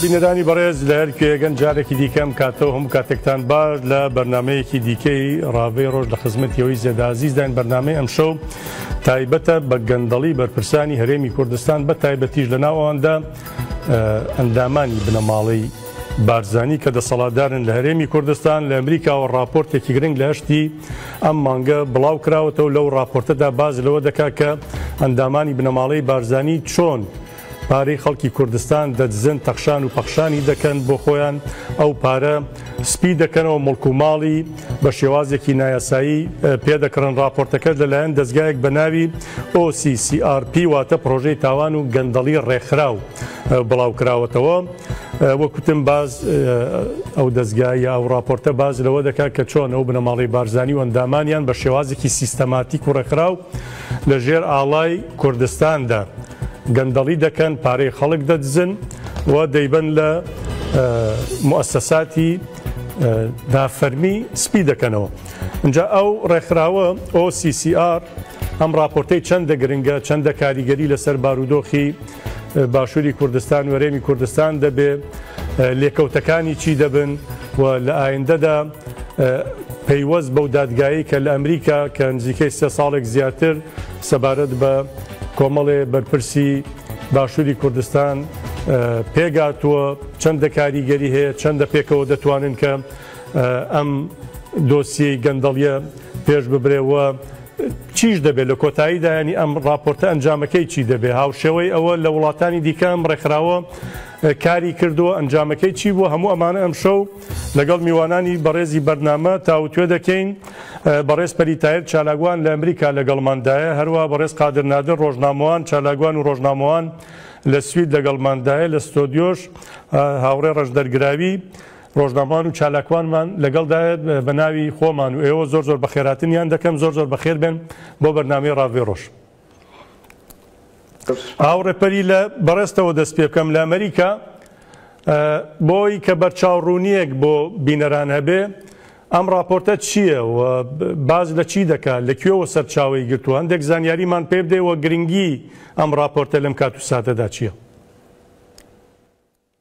بینەرانی بەڕێز لە هەر کوێگەن جارێکی دیکە ئەم کاتەوە هەموو کاتێکتان باش لە بەرنمەیەکی دیکەی ڕاوی ڕۆژ لە خزمەتیەوەی زێدازیزداین بەرنمەی ئەم شەو تایبەتە بە گەندەڵی بەرپرسانی هەرێمی کوردستان بە تایبەتیش لە ناواندا ئەندامانی بنەماڵەی بارزانی کە دەسەڵاتدارن لە هەرێمی کوردستان لە ئەمریکاوە راپۆرتێکی گرنگ لە هەشتی ئەم مانگە بڵاو کراوەتەوە لەو راپۆرتەدا باز لەوە دەکات کە ئەندامانی بنەماڵەی بارزانی چۆن پارەی خەڵکی کوردستان دەدزن تەخشان و پەخشانی دەکەن بۆ خۆیان ئەو پارە سپی دەکەنەوە مڵک و ماڵی بە شێوازێکی نایاسایی پێدەکڕن راپۆرتەکەش لەلایەن دەستگایەک بە ناوی OCCRP واتە پرۆژەی تاوان و گەندەڵی ڕێکخراو بڵاو کراوەتەوە وەکوتم باز ئەو دەستگایە ئەو راپۆرتە باز لەوە دەکات کە چۆن ئەو بنەماڵی بارزانانی و ئەندامانیان بە شێوازێکی سیستەماتیک و ڕێکخراو لە ژێر ئاڵای کوردستاندا گەندەڵی دەکەن پارەی خەڵک دەدزن و دەیبەن لە موسەساتی دافەرمی سپی دەکەنەوە اینجا ئەو ڕێکخراوە OCCR ئەم راپۆرتەی چەندە گرنگە چەندە کاریگەری لەسەر بارودۆخی باشووری کوردستان وەرێمی کوردستان دەبێ لێکەوتەکانی چی دەبن و لە ئایندەدا پەیوەست بەو دادگایی کە لە ئەمریکا کە نزیکەی سێ ساڵێک زیاتر سەبارەت بە کۆمەڵێ بەرپرسی باشووری کوردستان پێگاتووە چەندە کاریگەری هەیە چەندە پێکەوە دەتوانن کە ئەم دۆسیەی گەندەڵیە پێش ببرێەوە چیش دەبێت لە کۆتایی دایانی ئەم راپۆرتە ئەنجامەکەی چی دەبێت هاوشێوەی ئەوە لە وڵاتانی دیکەم ڕێکخراوە کاری کردووە ئەنجامەکەی چی بوو هەموو ئەمانە ئەم شەو لەگەڵ میوانانی بەڕێزی بەرنامە تاوتوێ دەکەین، بەڕێز پەری تایر چالاکوان لە ئەمریکا لەگەڵماندایە، هەروا بەڕێز قادر نادر ڕۆژنامەوان، چالاکوان و ڕۆژنامەوان لە سوید لەگەڵماندایە، لە ستۆدیۆش هاوڕێ ڕەشدەر گراوی، ڕۆژنامەوان و چالاکوانمان لەگەڵدایە، بەناوی خۆمان و ئێوە زۆر زۆر بەخێرهاتنیان دەکەم، زۆر زۆر بەخێربێن بۆ بەرنامەی ڕاڤەی ڕۆژ. ئاو ڕێپەری لە بەڕێزتەوە دەست پێکەم لە ئەمریکا بۆی کە بەرچاو ڕوونیەک بۆ بینەران هەبێ ئەم راپۆرتە چییە و باز لە چی دەکات لە کوێوە سەرچاوی گرتووە هەندێک زانیاریمان پێ بدەیەوە گرنگی ئەم راپۆرتە لەم کات و ساتەدا چییە؟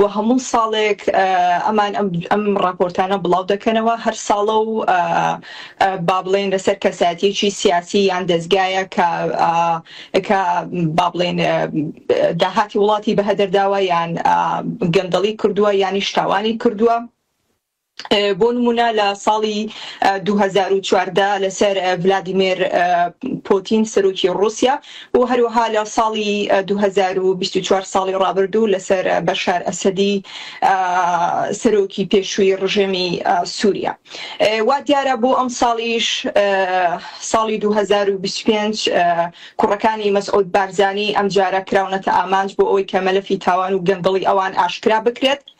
و هەموو ساڵێک ئەمان ئەم ڕاپۆرتانە بڵاو دەکەنەوە هەر ساڵە و بابلین لەسەر کەساتیی سیاسی یان دەستگایە کە کە بابلین داهاتی وڵاتی بەهەدەرداوە یان گەندەڵی کردووە یانیش تاوانی کردووە بۆ نموونە لە ساڵی دوو هەزار و چواردە لەسەر ڤلادیمێر پۆتین سەرۆکی ڕووسیا و هەروەها لە ساڵی دوو هەزار و بیست و چوار ساڵی ڕابردوو لەسەر بەشار ئەسەدی سەرۆکی پێشووی ڕژێمی سووریا وا دیارە بۆ ئەم ساڵیش ساڵی دوو هەزار و بیست و پێنج کوڕەکانی مەسعود بارزانی ئەمجارە کراونەتە ئامانج بۆ ئەوەی کە مەلەفی تاوان و گەندەڵی ئەوان ئاشکرا بکرێت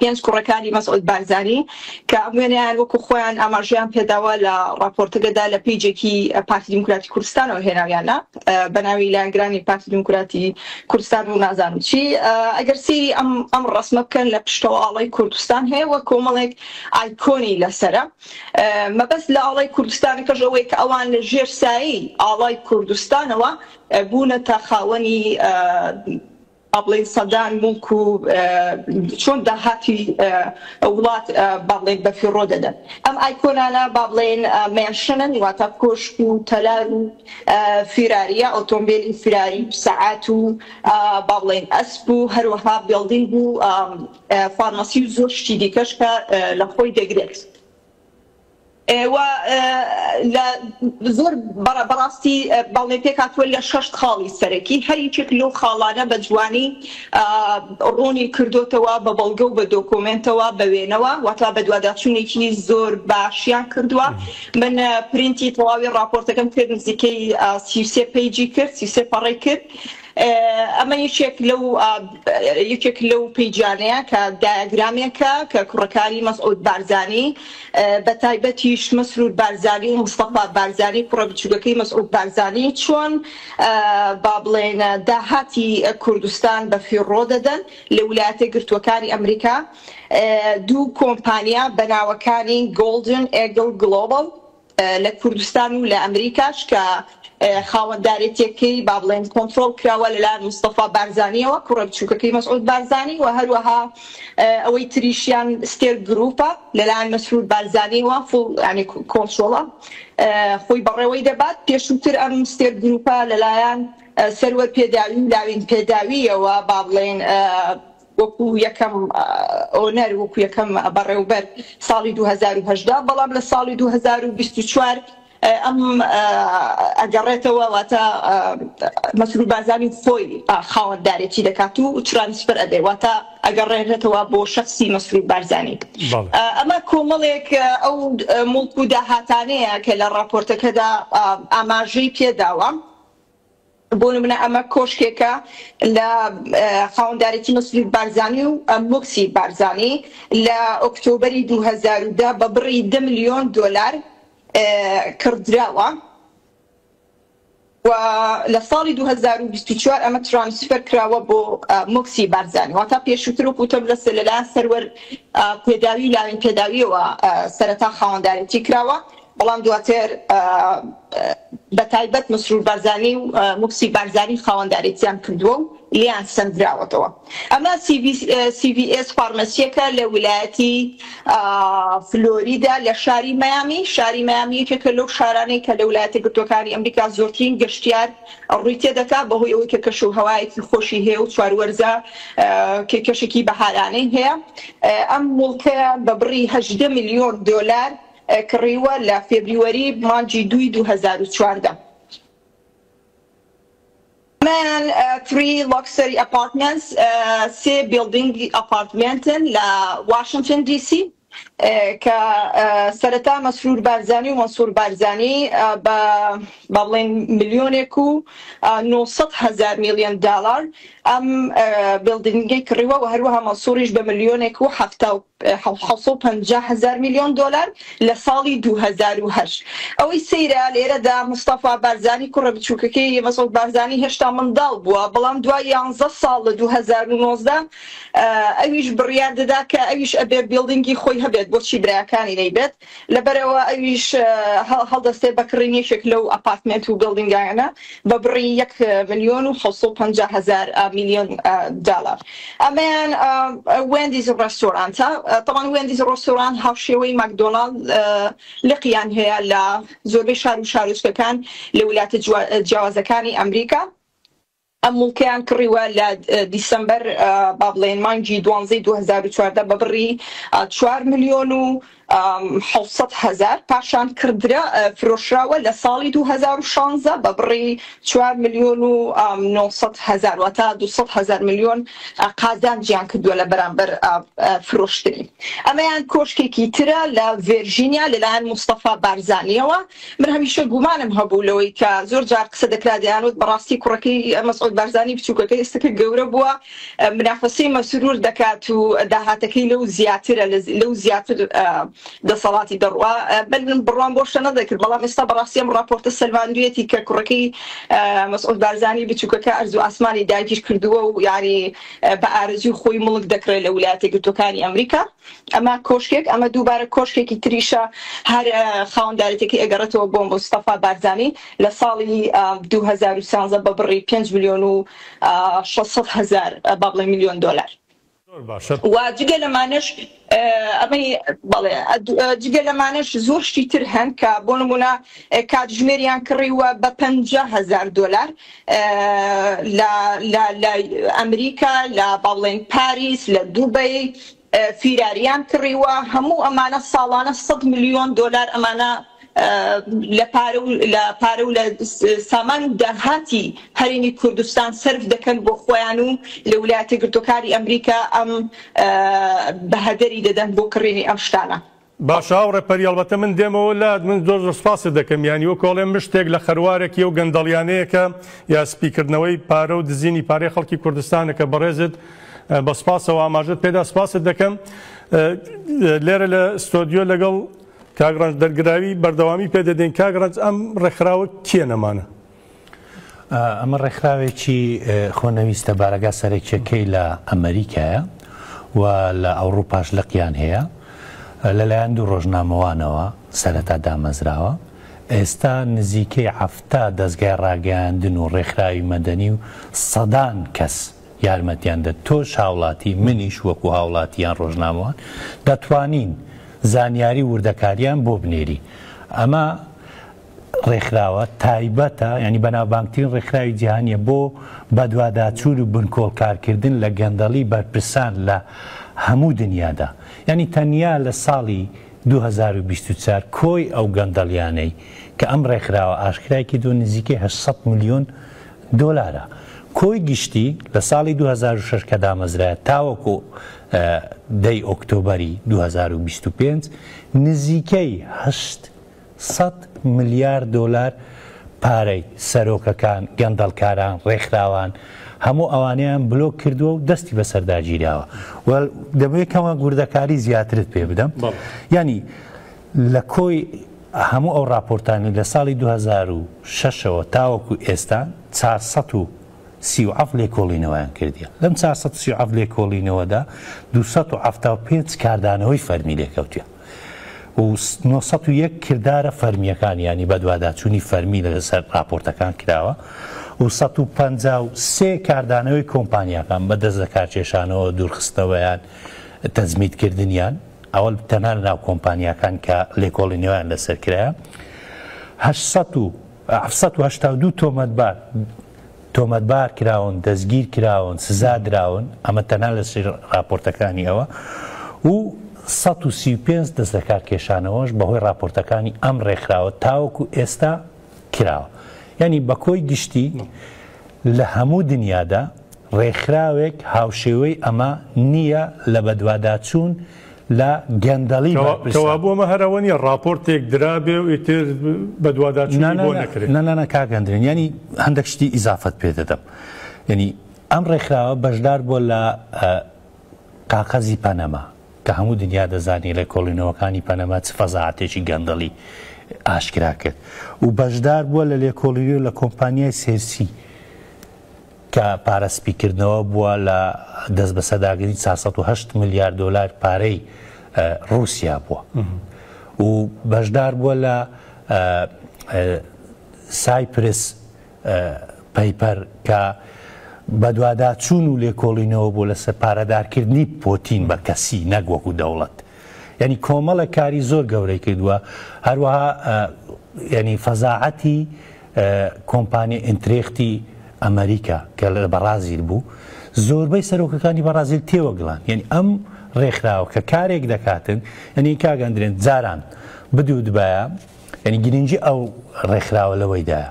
پێنج کوڕەکانی مەسعود بارزانی کە ئەم وێنەیان وەکو خۆیان ئاماژەیان پێداوە لە ڕاپۆرتەگەدا لە پەیجێکی پارتی دیموکراتی کوردستانەوە هێناویانە بە ناوی لایەنگرانی پارتی دیموکراتی کوردستان و نازانم چی ئەگەر سیری ئەم ئەم ڕسمە بکەن لە پشتەوە ئاڵای کوردستان هەیە وە کۆمەڵێک ئایکۆنی لەسرە مەبەست لە ئاڵای کوردستانەکەش ئەوەیە کە ئەوان لە ژێر سایی ئاڵای کوردستانەوە بوونەتە خاوەنی با بڵێین سەدان موڵک و چۆن داهاتی وڵات با بڵێین بە فیڕۆ دەدەن ئەم ئایکۆنانە با بڵێین مێنشنن واتە کۆشک و تەلار و فیراریە ئۆتۆمبێلی فیراری و سەعات و با بڵێین ئەسپ و هەروەها بێڵدینگ و فارمەسی و زۆر شتی دیکەش کە لە خۆی دەگرێت. وە لە زۆر بەڕاستی بەڵێ پێکهاتووە لە شەشت خاڵی سەرەکی هەر یەکێک لەو خاڵانە بە جوانی ڕوونی کردۆتەوە بە بەڵگە و بە دۆکۆمێنتەوە بە وێنەوە وەتا بەدواداچوونێکی زۆر باشیان کردووە من پرینتی تەواوی ڕاپۆرتەکەم کرد نزیکەی سیوسێ پەیجی کرد سیوسێ پەڕەی کرد ئەمە یەکێک لەو یەکێک لەو پیجانەیە کە دایەگرامێکە کە کوڕەکانی مەسعود بارزانی بە تایبەتیش مەسرور بارزانی و مستەفا بارزانی کوڕە بچووکەکەی مەسعود بارزانی چۆن با بڵێن داهاتی کوردستان بە فیڕۆ دەدەن لە ولایەتە گرتووەکانی ئەمریکا دوو کۆمپانیا بە ناوەکانی گۆڵدن ئێگڵ گڵۆبڵ لە کوردستان و لە ئەمریکاش کە خاوەندارێتییەکەی با بڵێین کۆنترۆڵ کراوە لەلایەن مستەفا بارزانییەوە، کوڕە بچووکەکەی مەسعود بارزانی و هەروەها ئەوەی تریشیان ستێل گرووپە لەلایەن مەسرور بارزانییەوە فوڵ یانی کۆنترۆڵە خۆی بەڕێوەی دەبات. پێشووتر ئەم ستێل گرووپە لەلایەن سەروەر پێداوی و لاوین پێداوییەوە با بڵێین وەکو یەکەم ئۆنەر وەکو یەکەم بەڕێوبەر ساڵی دوو هەزار و هەژدە بەڵام لە ساڵی دوو هەزار و بیست و چوار ئەم ئەگەڕێتەوە واتە مەسرور بارزانی خۆی خاوەندارێتی دەکات و ترانسفەر ئەبێ واتە ئەگەڕێنێتەوە بۆ شەخسی مەسرور بارزانی بەڵێ ئەمە کۆمەڵێک ئەو موڵک و داهاتانەیە کە لە ڕاپۆرتەکەدا ئاماژەی پێداوە بۆ نمونە ئەمە کۆشکێکە لە خاوەندارێتی مەسرور بارزانی و موکسی بارزانی لە ئۆکتۆبەری دوو هەزار و دە بە بڕی دە ملیۆن دۆلار کڕدراوە و لە ساڵی دوو هەزار و بیست و چوار ئەمە ترانسفەر کراوە بۆ موکسی بارزانی واتا پێشووتر وەکو وتم لە لەلایەن سەروەر پێداوی و لاوێن پێداویەوە سەرەتا خاوەندارێتی کراوە بەڵام دواتر بە تایبەت مسرور بارزانی و موکسی بارزانی خاوەندارێتیان کردووە و لێیان سەندراوەتەوە. ئەمە سی ڤی ئێس فارمەسییەکە لە ویلایەتی فلۆریدا لە شاری مەیامی. شاری مەیامی یەکێکە لەو شارانەی کە لە ولایەتە گرتووەکانی ئەمریکا زۆرترین گەشتیار ڕووی تێ دەکا بەهۆی ئەوەی کە کەش و هەوایەکی خۆشی هەیە و چوار وەرزە کە کەشێکی بەهارانەی هەیە. ئەم موڵکەیە بە بڕی هەژدە ملیۆن دۆلار کڕیوە لە فێبریوەری مانگی دووی دوو هەزار و چواردە. ئەمەیان فری لۆکسەری ئەپارتمێنتس سێ بیڵدینگی ئەپارتمێنتن لە واشنتن دی سی کە سەرەتا مەسرور بارزانی و مەنسور بارزانی بە با بڵێین ملیۆنێک و نۆ سەد هەزار میلیۆن دالار ئەم بیڵدینگەی کڕیوە و هەروەها مەنسوریش بە ملیۆنێک و حەفتا و حەوت سەد و پەنجا هەزار ملیۆن دۆلار لە ساڵی دوو هەزار و هەشت. ئەوەی سەیرە لێرەدا مستەفا بارزانی کوڕە بچووکەکەی مەسعود بارزانی هێشتا منداڵ بووە، بەڵام دوای یانزە ساڵ لە دوو هەزار و نۆزدە ئەویش بڕیار دەدا کە ئەویش ئەبێ بیڵدینگی خۆی هەبێت بۆچی برایەکانی نەیبێت؟ لەبەرئەوە ئەویش هەڵدەستێت بە کڕین یەکێک لەو ئەپارتمێنت و بیڵدینگایانە بە بڕی یەک ملیۆن و حەوت سەد و پەنجا هەزار ملیۆن دالار ئەمەیان وێندیز ڕێستۆرانتە تەمان وێندیز ڕۆستۆران هاوشێوەی ماکدۆناڵد لقیان هەیە لە زۆربەی شار و شارۆچکەکان لە ویلایەتە جیاوازەکانی ئەمریکا ئەم موڵکەیان کڕیوە لە دیسەمبەر با بڵێین مانگی دوانزەی دوو هەزار و چواردە بە بڕی چوار ملیۆن و حەوت سەد هەزار، پاشان کڕدرا فرۆشراوە لە ساڵی دوو هەزار و شانزە بە بڕی چوار ملیۆن و نۆ سەد هەزار، واتە دوو سەد هەزار ملیۆن قازانجیان کردووە لە بەرامبەر فرۆشتنی. ئەمەیان کۆشکێکی ترە لە ڤێرژینیا لەلایەن مستەفا بارزانییەوە من هەمیشە گومانم هەبوو لەوەی کە زۆر جار قسە دەکرا دەیانوت بەڕاستی کوڕەکەی مەسعود بارزانی بچووکەکە ئێستەکە گەورە بووە منافەسەی مەسرور دەکات و داهاتەکەی لەو زیاترە لەو زیاتر دەسەڵاتی دەڕوا بەلم بڕوام بۆ شەنە دەکرد بەڵام ئێستا بەڕاستی ئەم ڕاپۆرتە سەلماندویەتی کە کوڕەکەی مەسعود بارزانی بچووکەکە ئەرزو ئاسمانی داگیر کردووە و یاری بە ئارزوی خۆی مڵک دەکرێت لە ولایەتە گرتوەکانی ئەمریکا ئەمە کۆشکێک ئەمە دووبارە کۆشکێکی تریشە هەر خاوەندارێتێکی ئەگەڕێتەوە بۆ مستەفا بارزانی لە ساڵی 2013 بە بڕی 5 ملیۆن و 600 هەزار با بڵێین ملیۆن دۆلار زۆر باشە. و جگە لەمانەش ئەمەی بەڵێ جگە لەمانەش زۆر شتی تر هەن کە بۆ نموونە کاتژمێریان کڕیوە بە پەنجا هەزار دۆلار لە لە لە ئەمریکا لە بەڵێن پاریس لە دوبەی فیراریان کڕیوە هەموو ئەمانە ساڵانە 100 ملیۆن دۆلار ئەمانە لە پارە و لە پارە و لە سامان و داهاتی هەرێمی کوردستان سرف دەکەن بۆ خۆیان و لە ولایەتە گرتوەکانی ئەمریکا ئەم بەهەدەری دەدەن بۆ کڕینی ئەم شتانە باشە هاوڕێ پەری ئەڵبەتە من دێمەوە لات من زۆر زۆر سپاست دەکەم یانی وەکو ئەڵێم من شتێک لە خەروارێکی ئەو گەندەڵیانەیە کە یا سپیکردنەوەی پارە و دزینی پارەی خەڵکی کوردستانە کە بەڕێزت بە سپاسەوە ئاماژەت پێدا سپاست دەکەم لێرە لە ستۆدیۆ لەگەڵ کاگڕەنج دەرگراوی بەردەوامی پێدەدەین کاگڕەنج ئەم ڕێکخراوە کێ نەمانە ئەمە ڕێکخراوێکی خۆنەویستە بارەگا سەرەکیەکەی لە ئەمەریکایە و لە ئەوڕوپاش لقیان هەیە لەلایەن دوو ڕۆژنامەوانەوە سەرەتا دامەزراوە ئێستا نزیکەی حەفتا دەستگای ڕاگەیاندن و ڕێکخراوی مەدەنی و سەدان کەس یارمەتیان دە تۆش هاوڵاتی منیش وەکو هاوڵاتیان ڕۆژنامەوان دەتوانین زانیاری وردەکاریان بۆ بنێری ئەمە ڕێکخراوە تایبەتە یانی بەناوبانگترین ڕێکخراوی جیهانیە بۆ بەدواداچوون و بنکۆڵکارکردن لە گەندەڵی بەرپرسان لە هەموو دنیادا یانی تەنیا لە ساڵی 2024 کۆی ئەو گەندەڵیانەی کە ئەم ڕێکخراوە ئاشکرای کردووە نزیکەی 800 ملیۆن دۆلارە کۆی گشتی لە ساڵی 2006 کە دامەزرایە تاوەکو دەی ئۆکتۆبەری 2025 نزیکەی 8 سەد ملیار دۆلار پارەی، سەرۆکەکان، گەندەڵکاران، ڕێکخراوان، هەموو ئەوانەیان بلۆک کردووە و دەستی بەسەردا گیراوە و دەبێ کەمێک وردەکاری زیاترت پێ بدەم یانی لە کۆی هەموو ئەو ڕاپۆرتانی لە ساڵی 2006ەوە تاوەکو ئێستا 400 سی و عەف لێکۆڵینەوەیان کردیە لەم 430 عەف لێکۆڵینەوەدا 275 کاردانەوەی فەرمی لێکەوتە و نۆ سەد و یەک کردارە فەرمییەکان یانی بەدواداچوونی فەرمی لەسەر ڕاپۆرتەکان کراوە و سەد و پەنجا و سێ کاردانەوەی کۆمپانیاکان بە دەست لەکارکێشانەوە، دوورخستنەوەیان، تەجمیدکردنیان، ئەوە تەنها لەناو کۆمپانیاکان کە لێکۆڵینەوەیان لەسەر کرایە، هەشت سەد و. حەفت سەد و هەشتا و دوو تۆمەتبار تۆمەتبار کراون، دەستگیر کراون، سزا دراون، ئەمە تەنها لە سەر ڕاپۆرتەکانی ئەوە و سەد و سی و پێنج دەست لە کار کێشانەوەش بەهۆی ڕاپۆرتەکانی ئەم ڕێکخراوە تاوەکو ئێستا کراوە. یانی بە کۆی گشتی لە هەموو دنیادا ڕێکخراوێک هاوشێوەی ئەمە نییە لە بەدواداچوون لە گەندەڵی بەرپرسە. کەوابوو ئەمە هەر ئەوە نییە ڕاپۆرتێک درابێ و ئیتر بەدواداچوونی بۆ نەکرێ؟ نە نە نە کاک ئەندرێن یانی هەندەک شتی ئیزافەت پێ دەدەم یعنی ئەم ڕێکخراوە بەشدار بووە لە قاقەزی پەنەما کە هەموو دنیا دەزانی لە کۆڵینەوەکانی پەنەما چ فەزاعاتێکی گەندەڵی ئاشکرا کرد و بەشدار بووە لە لێکۆڵیری و لە کۆمپانیای سێرسی کە پارە سپیکردنەوە بووە لە دەستبەسەرداگرتنی چوار سەد و هەشت ملیار دۆلار پارەی ڕووسیا بووە و بەشدار بووە لە سایپرس پەیپەر کە بەدواداچوون و لێکۆڵینەوە بۆ لەسەر پارەدارکردنی پۆتین بە کەسی نەک وەکو دەوڵەت یانی کۆمەڵێک کاری زۆر گەورەی کردووە هەروەها ینی فەزاعەتی کۆمپانی ئینترێختی ئەمریکا کە لە بەڕازیل بوو زۆربەی سەرۆکەکانی بەڕازیل تێوەگلان یعنی ئەم ڕێکخراوە کە کارێک دەکاتن ئەنی کاگەندرێن جاران بدو دبایە ینی گرنگجی ئەو ڕێکخراوە لەوەیدایە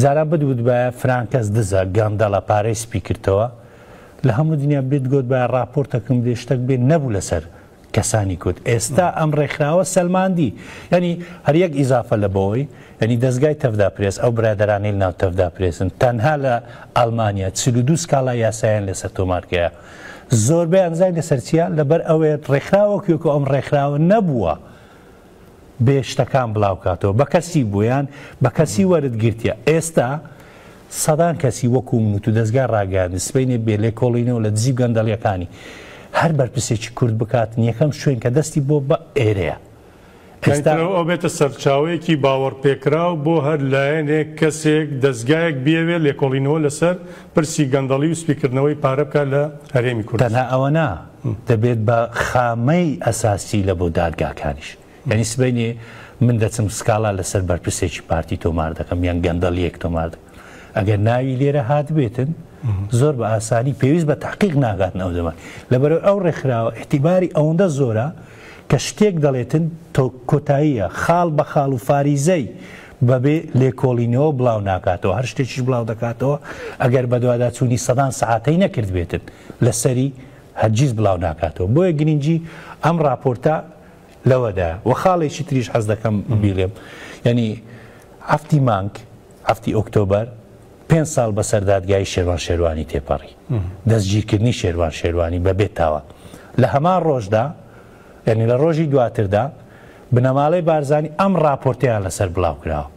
جاران بت وتبایە فرانکەس دزە گەندەڵە پارەی سپی کردتەوە لە هەموو دنیا بت گۆتبایە ڕاپۆرتەکم دێ شتەک بێ نەبوو لەسەر کەسانی کورد ئێستا ئەم ڕێکخراوە سەلماندی یعنی هەر یەک ئیزافە لە بەوەی یعنی دەستگای تەفدا پرێس ئەو برادرانی لە ناو تەفدا پرێسن تەنها لە ئەلمانیا چل و دوو سکاڵا یاسایان لەسەر تۆمارکەیە زۆربەیان زای لەسەر چیە لەبەر ئەوەیە ڕێکخراوە کوێکۆ ئەم ڕێکخراوە نەبووە بێ شتەکان بڵاو کاتەوە بە کەسی بوویان بە کەسی وەرت گرتیە ئێستا سەدان کەسی وەکو من و تو دەستگای ڕاگەیاندن سبەینێ بێ لێ کۆڵینەوە لە دزی و گەندەڵیەکانی هەر بەرپرسێکی کورد بکات یەکەم شوێن کە دەستی بۆ بە ئێرەیە ئێستا ئەو ئەبێتە سەرچاوەیەکی باوەڕ پێکراو بۆ هەر لایەنێک کەسێک دەستگایەک بیەوێت لێکۆڵینەوە لەسەر پرسی گەندەڵی و سپیکردنەوەی پارە بکات لە هەرێمی کوردستان. تەنها ئەوە نا. دەبێت بە خامەی ئەساسی لە بۆ دادگاکانیش. یانی سبەینێ من دەچم سکاڵا لەسەر بەرپرسێکی پارتی تۆمار دەکەم یان گەندەڵیەک تۆمار دەکەم ئەگەر ناوی لێرە هاتبێتن زۆر بە ئاسانی پێویست بە تحقیق ناگاتن ئەو دەمان لەبەرەوە ئەو ڕێکخراوە احتیباری ئەوەندە زۆرە کە شتێک دەڵێتن تۆ کۆتاییە خاڵ بە خاڵ و فاریزەی بەبێ لێکۆڵینەوە بڵاو ناکاتەوە هەر شتێکیش بڵاو دەکاتەوە ئەگەر بەدواداچوونی سەدان سعاتەی نەکردبێتن لەسەری هەرگیز بڵاو ناکاتەوە بۆیە گرینگی ئەم ڕاپۆرتە لەوەدا وە خاڵێکی تریش حەز دەکەم بیڵێم یعنی هەفتی مانگ هەفتی ئۆکتۆبەر پێ ساڵ بەسەر دادگای شێوان شێوانی تێپەڕی دەستگیرکردنی شێوان شێوانی بەبێت تاوە لە هەمان ڕۆژدا یعنی لە ڕۆژی دواتردا بنەماڵەی بارزانانی ئەم ڕاپۆرتیان لەسەر بڵاو کراوە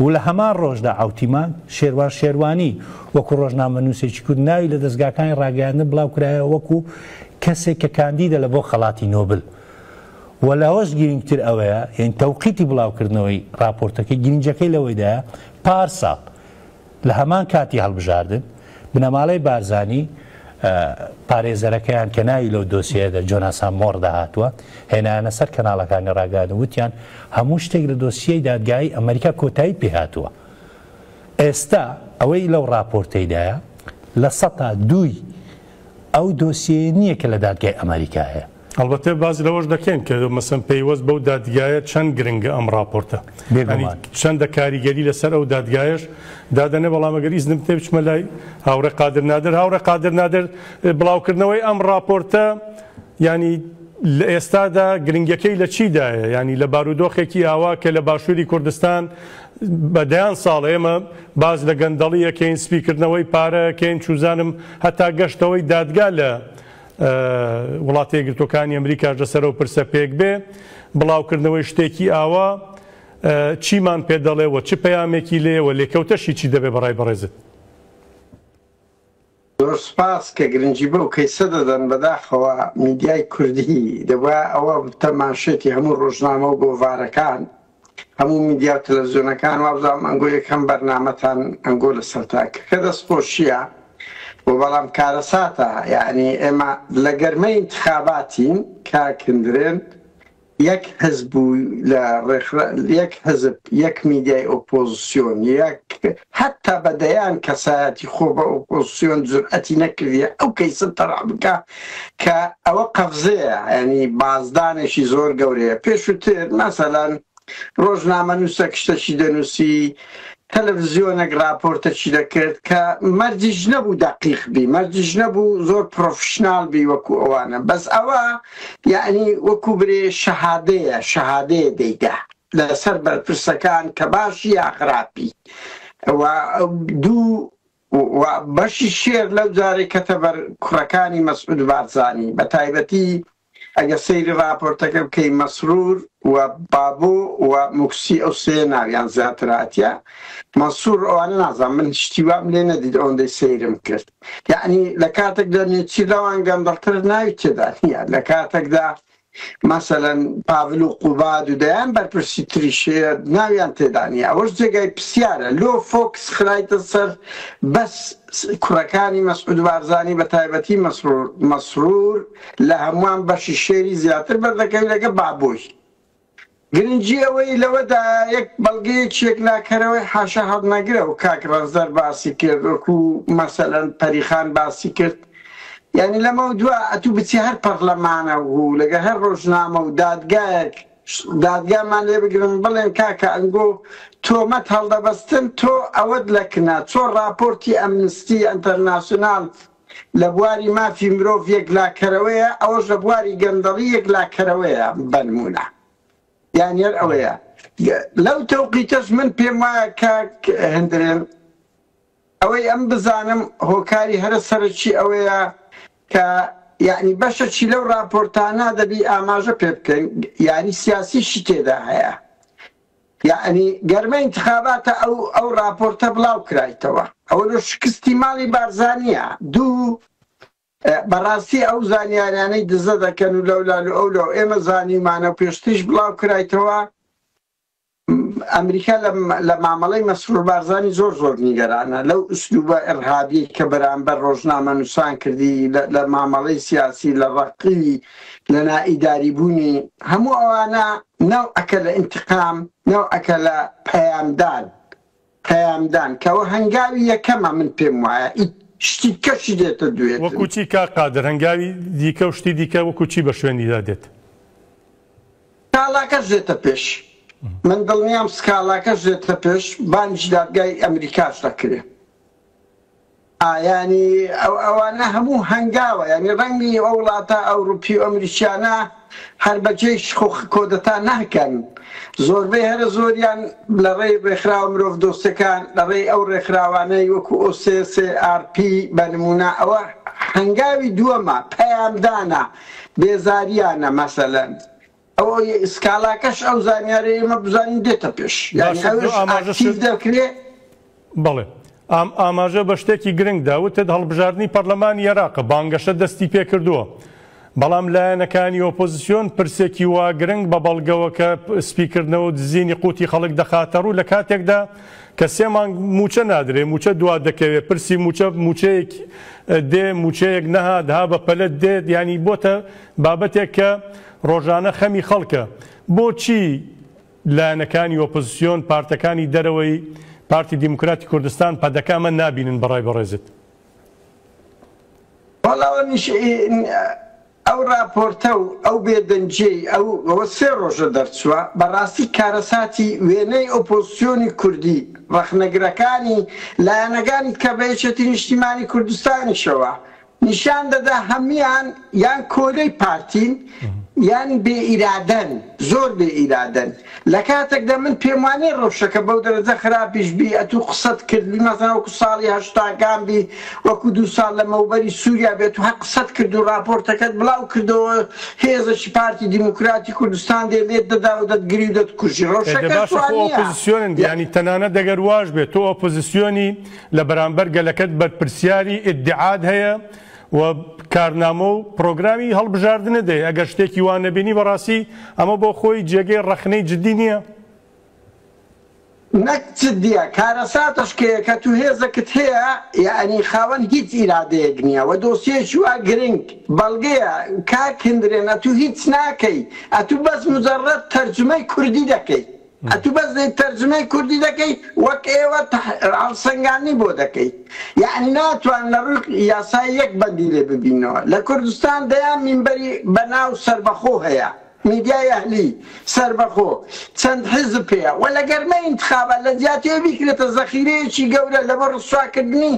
و لە هەمان ڕۆژدا عەوتیمان شێروان شێروانی وەکو ڕۆژنامەنووسێکی کورد ناوی لە دەزگاکانی ڕاگەیاندن بڵاوکرایەوە وەکو کەسێک کە کاندیدە لە بۆ خەڵاتی نۆبل و لەوەش گرینگتر ئەوەیە یانی تەوقیتی بڵاوکردنەوەی ڕاپۆرتەکەی گرینجەکەی لەوەیدایە پارساڵ لە هەمان کاتی هەڵبژاردن، بنەماڵەی بارزانی پارێزەرەکەیان کە ناوی لەو دۆسیەیەدا جۆناسان مۆڕ داهاتووە، هێنایانە سەر کەناڵەکانی ڕاگەیاندن وتیان هەموو شتێک لە دۆسیەی دادگایی ئەمەریکا کۆتایی پێهاتووە. ئێستا ئەوەی لەو ڕاپۆرتەیدایە لە سەتا دووی ئەو دۆسیەیە نییە کە لە دادگای ئەمەریکا هەیە. ئەڵبەتە باس لەوەش دەکەین کە مەسەن پەیوەست بەو دادگایە چەند گرنگە ئەم ڕاپۆرتە چەندە کاریگەری لەسەر ئەو دادگایش دادەنێ بەڵامەگەر ئیزنم تێ بچمە لای هاوڕێ قادر نادر هاوڕێ قادر نادر بڵاوکردنەوەی ئەم ڕاپۆرتە ینی لە ئێستادا گرنگەکەی لە چیدایە ینی لە بارودۆخێکی ئاوا کە لە باشووری کوردستان بەدەیان ساڵ ئێمە باز لە گەندەڵیەکەین سپیکردنەوەی پارەکەین چوزانم هەتا گەشتەوەی دادگا لە وڵاتە یەکگرتووەکانی ئەمریکاش لەسەر ئەو پرسە پێک بێ بڵاوکردنەوەی شتێکی ئاوا چیمان پێ دەڵێ و چ پەیامێکی لێ و لێکەوتەشی چی دەبێ بەڕای بەڕێزت زۆر سپاس کە گرنگی بەو کەیسە دەدەن بەداخەوە میدیای کوردی دەبا ئەوە تەماشێتی هەموو ڕۆژنامە و گۆڤارەکان هەموو میدیا و تەلەفزیۆنەکان وابزانم ئەنگۆ یەکەم بەرنامەتان ئەنگۆ لەسەرتان کەکە دەست خۆشیە وە بەڵام کارەساتە یانی ئێمە لە گەرمەی ئینتخاباتین کاک هندرێن یەک حزب و لە ڕێخرا یەک حزب یەک میدیای ئۆپۆزسیۆن یەک هەتا بە دەیان کەسایەتی خۆ بە ئۆپۆزسیۆن جورئەتی نەکردیە ئەو کەیسە تەڕح بکا کە ئەوە قەفزەیە یانی بازدانێکی زۆر گەورەیە پێشوتر مەسەلەن ڕۆژنامەنووسەک شتەکی دەنووسی تەلەڤزیۆنەک ڕاپۆرتەکی دەکرد کە مەرجیش نەبوو دەقیق بی مەرجیش نەبوو زۆر پرۆفشنال بی وەکو ئەوانە بەس ئەوە یعنی وەکو برێ شەهادەیە شەهادەیە دەیدا لەسەر بەرپرسەکان کە باشی یا خراپی و دوو و بەشی شێر لەو جارێک کەتە بەر کوڕەکانی مەسعود بارزانی بە تایبەتی ئەگە سەیری راپۆرتەکە بکەی مەسرور و بابۆ و مکسی ئەو سێ ناویان زیاتراتە مەسوور ئەوانە نازان من شتی وام لێ نەدید ئەوەندەی سەیرم کرد یعنی لە کاتێکدا نێچی لەوان گەندەڵتر ناوی تێدا نیە لە کاتێکدا مەسەلەن پاڤل و قوباد و دەیان بەرپرسی تریش ناویان تێدا نیە ئەوەش جێگای پسیارە لۆ فۆکس خرایتە سەر بەس کوڕەکانی مەسعود بارزانی بە تایبەتی مەسرور مەسرور لە هەموان بەشی شێری زیاتر بەردەکەوی لەگە بابۆی گرنگی ئەوەی لەوەدایە یەک بەڵگەیەکی یەکلاکەرەوەی حاشا هەڵنەگرە و کاک ڕەنجدەر باسی کرد وەکو مەسەلەن پەریخان باسی کرد یانی لەمەو دوا ئەتوو بچی هەر پەڕلەمانە و لەگە هەر ڕۆژنامە و دادگایەک دادگامان لێ بگرن بڵێن کاکە ئەنگۆ تۆمەت هەڵدەبەستن تۆ ئەوەت لەکنە چۆ ڕاپۆرتی ئەمنستی ئەنتەرناسیۆنال لە بواری مافی مرۆڤ یەکلاکەرەوەیە، ئەوەش لە بواری گەندەڵی یەکلاکەرەوەیە، بەنموونە دانیەر ئەوەیە. لەو تەوقیتەش من پێم وایە کاک هندرێن ئەوەی ئەم بزانم هۆکاری هەرە سەرەکی ئەوەیە کە یەعنی بەشەچی لەو ڕاپۆرتانە دەبی ئاماژە پێ بکەین یاری سیاسیشی تێدا هەیە یەعنی گەرمە ئینتخاباتە ئەو ئەو ڕاپۆرتە بڵاو کرایتەوە ئەوە لۆ شکستی ماڵی بارزانیە دوو بەڕاستی ئەو زانیاریانەی دزە دەکەن و لەولال و ئەو لەو ئێمە زانیمانە و پێشتیش بڵاو کرایتەوە ئەمریکا لە مامەڵەی مەسرور بارزانانی زۆر زۆر نیگەرانە لەو ئوسلوبە ئەرهابی کە بەرامبەر ڕۆژنامە نووسان کردی لە مامەڵەی سیاسی لە ڕقی لە نا ئیداری بوونی هەموو ئەوانە نەوعەکە لە انتقام نەوعەکە لە پەیام دان پەیام دان کە وە هەنگاوی یەکەمە من پێم وایە ئی شتی دکەشی دێتە دوێتن. وەکو چی کاک قادر هەنگاوی دیکە و شتی دیکە وەکو چی بە شوێنیدا دێت؟ سکاڵاکەش دێتە پێش من دڵنیام سکاڵاکەش دێتە پێش بانگی دادگای ئەمریکاش دەکرێ. ئا یانی ئەو ئەوانە هەموو هەنگاوە یانی ڕەنگی ئەو وڵاتە ئەوڕوپی و ئەمریکیانە هەر بە جێی شخوخ کۆدەتا ناکەن زۆربەی هەرە زۆریان لە ڕێی ڕێکخراوە مرۆڤ دۆستەکان لە ڕێی ئەو ڕێکخراوانەی وەکو OCCRP بە نموونە ئەوە هەنگاوی دووەمە پەیامدانە بێزاریانە مەسەلەن ئەوەی سکاڵاکەش ئەو زانیارەی ئێمە بزانین دێتە پێش یانی باشە، ئەوش ئاماژە ئاکتیڤ شت- دەکرێ بەڵێ ئام ئاماژە بە شتێکی گرنگ دا وتت هەڵبژاردنی پەرلەمانی عێراقە بانگەشە دەستی پێ کردووە بەڵام لایەنەکانی ئۆپۆزسیۆن پرسێکی وا گرنگ بە بەڵگەوە کە سپیکردنەوە و دزینی قوتی خەڵک دەخاتە ڕوو لە کاتێکدا کە سێ مانگ مووچە نادرێ مووچە دوا دەکەوێ پرسی مووچە مووچەیەک دێ مووچەیەک نەهات ها بە پەلە دێت یانی بۆتە بابەتێک کە ڕۆژانە خەمی خەڵکە، بۆچی لایەنەکانی ئۆپۆزسیۆن، پارتەکانی دەرەوەی پارتی دیموکراتی کوردستان، پەدەکە، ئەمە نابینن بە ڕای بەڕێزت؟ وەڵا ئەو ڕاپۆرتە و ئەو بێدەنگییەی ئەو ئەوە سێ ڕۆژە دەرچووە، بەڕاستی کارەساتی وێنەی ئۆپۆزسیۆنی کوردی، ڕەخنەگرەکانی، لایەنەکانی کە بە یەکێتی نیشتیمانی کوردستانیشەوە نیشان دەدا هەموان یان کۆیلەی پارتین یان بێ ئیرادەن زۆر بێ ئیرادەن لە کاتێکدا من پێم وانیە رەوشەکە بەو دەرەجە خراپیش بی ئەتو قسەت کرد مەسەلەن وەکو ساڵی هەشتاکان بی وەکو دوو ساڵ لەمەوبەری سوریا بێت و هەر قسەت کرد و راپۆرتەکەت بڵاو کردەوە هێزەکی پارتی دیموکراتی کوردستان دێ لێت دەدا و دەتگری و دەتکوژی ئێ دە رەوشەکەش باشە وا خۆ نیە ئۆپۆزسیۆنن یە یانی تەنانەت ئەگەر واش بێت تۆ ئۆپۆزسیۆنی لە بەرامبەر گەلەکەت بەرپرسیاری ئیدعات هەیە و کارنامە و پرۆگرامی هەڵبژاردنت هەیە، ئەگەر شتێکی وا نەبینی بەڕاستی ئەمە بۆ خۆی جێگەی ڕەخنەی جدی نییە؟ نەک جدیە، کارەساتەش کە یە کە تو هێزەکت هەیە یەعنی خاوەن هیچ ئیرادەیەک نییە و دۆسیەیەکی وا گرنگ بەڵگەیە، کاک هندرێن ئەتو هیچ ناکەی ئەتو بەس مجەڕەد تەرجومەی کوردی دەکەی. ئەتو بەس دەی تەرجمەی کوردی دەکەی وەک ئێوە هەڵسەنگاندنی بۆ دەکەی یەعنی ناتوان لە ڕوی یاسای یەک بەندی لێ ببینەوە لە کوردستان دەیان مینبەری بە ناو سەربەخۆ هەیە میدیای ئەهلی سەربەخۆ چەند حیزب پێیە وە لە گەرمەی ئینتخابات لە جیاتیەوە بیکرێتە زەخیرەیەکی گەورە لەبۆ ڕسواکردنی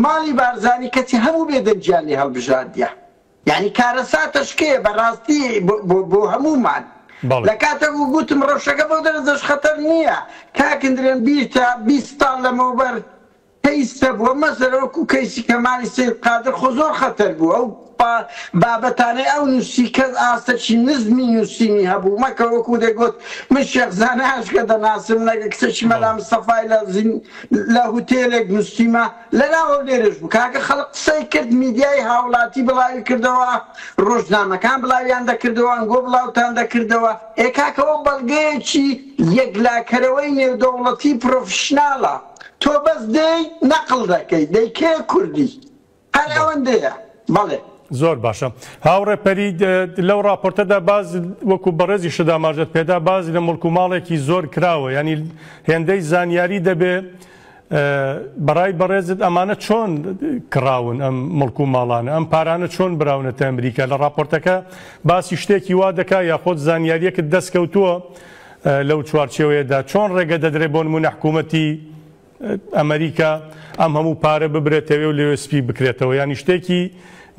ماڵی بارزانی کەچی هەموو بێدەنگیان لێ هەڵبژاردیە. یانی کارەساتە شکێ بە ڕاستی بۆ بۆ هەموومان لە کاتەک و گوتم ڕەوشەکە بەو دەرەجەش خەتەر نییە کاک ندرێن بیرتە بیست ساڵ لەمەوبەر کەیس هەبووە مەسەلە وەکو کەیسی کەمالی سەید قادر خۆ زۆر خەتەر بوو ئەو بابەتانەی ئەو نووسی کەس ئاستەکی نزمی نووسینی هەبوو مەکە وەکو دەگوت من شێخ زاناش کە دەناسم لەگە کچەکی مەلا مستەفای لە زین لە هوتێلێک نووسیمە لەناو هەولێرش بوو کاکە خەڵک قسەی کرد میدیای هاوڵاتی بڵاوی کردەوە ڕۆژنامەکان بڵاویان دەکردەوە ئەنگۆ بڵاوتان دەکردەوە ئێ کاکە ئەوە بەڵگەیەکی یەکلاکەرەوەی نێودەوڵەتی پڕۆفیشناڵە تۆ بەس دێی نەقڵ دەکەی دەی کێ کوردی هەر ئەوەندەیە بەڵێ. زۆر باشە هاوڕێ پەرید لەو ڕاپۆرتەدا باز وەکو بەڕێزی شدا ماژەت پێدا باز لە مڵک و ماڵێکی زۆر کراوە ینی هێندەی زانیاری دەبێ بەڕای بەڕێزت ئەمانە چۆن کڕاون ئەم مڵک و ماڵانە ئەم پارانە چۆن براونەتە ئەمریکا لە ڕاپۆرتەکە باسی شتێکی وا دەکا یاخۆت زانیاریەکت دەستکەوتووە لەو چوارچێوەیەدا چۆن ڕێگە دەدرێ بۆن منە حکوومەتی ئەمریکا ئەم هەموو پارە ببرێتەوێ و لەوێ سپی بکرێتەوە ینی شتێکی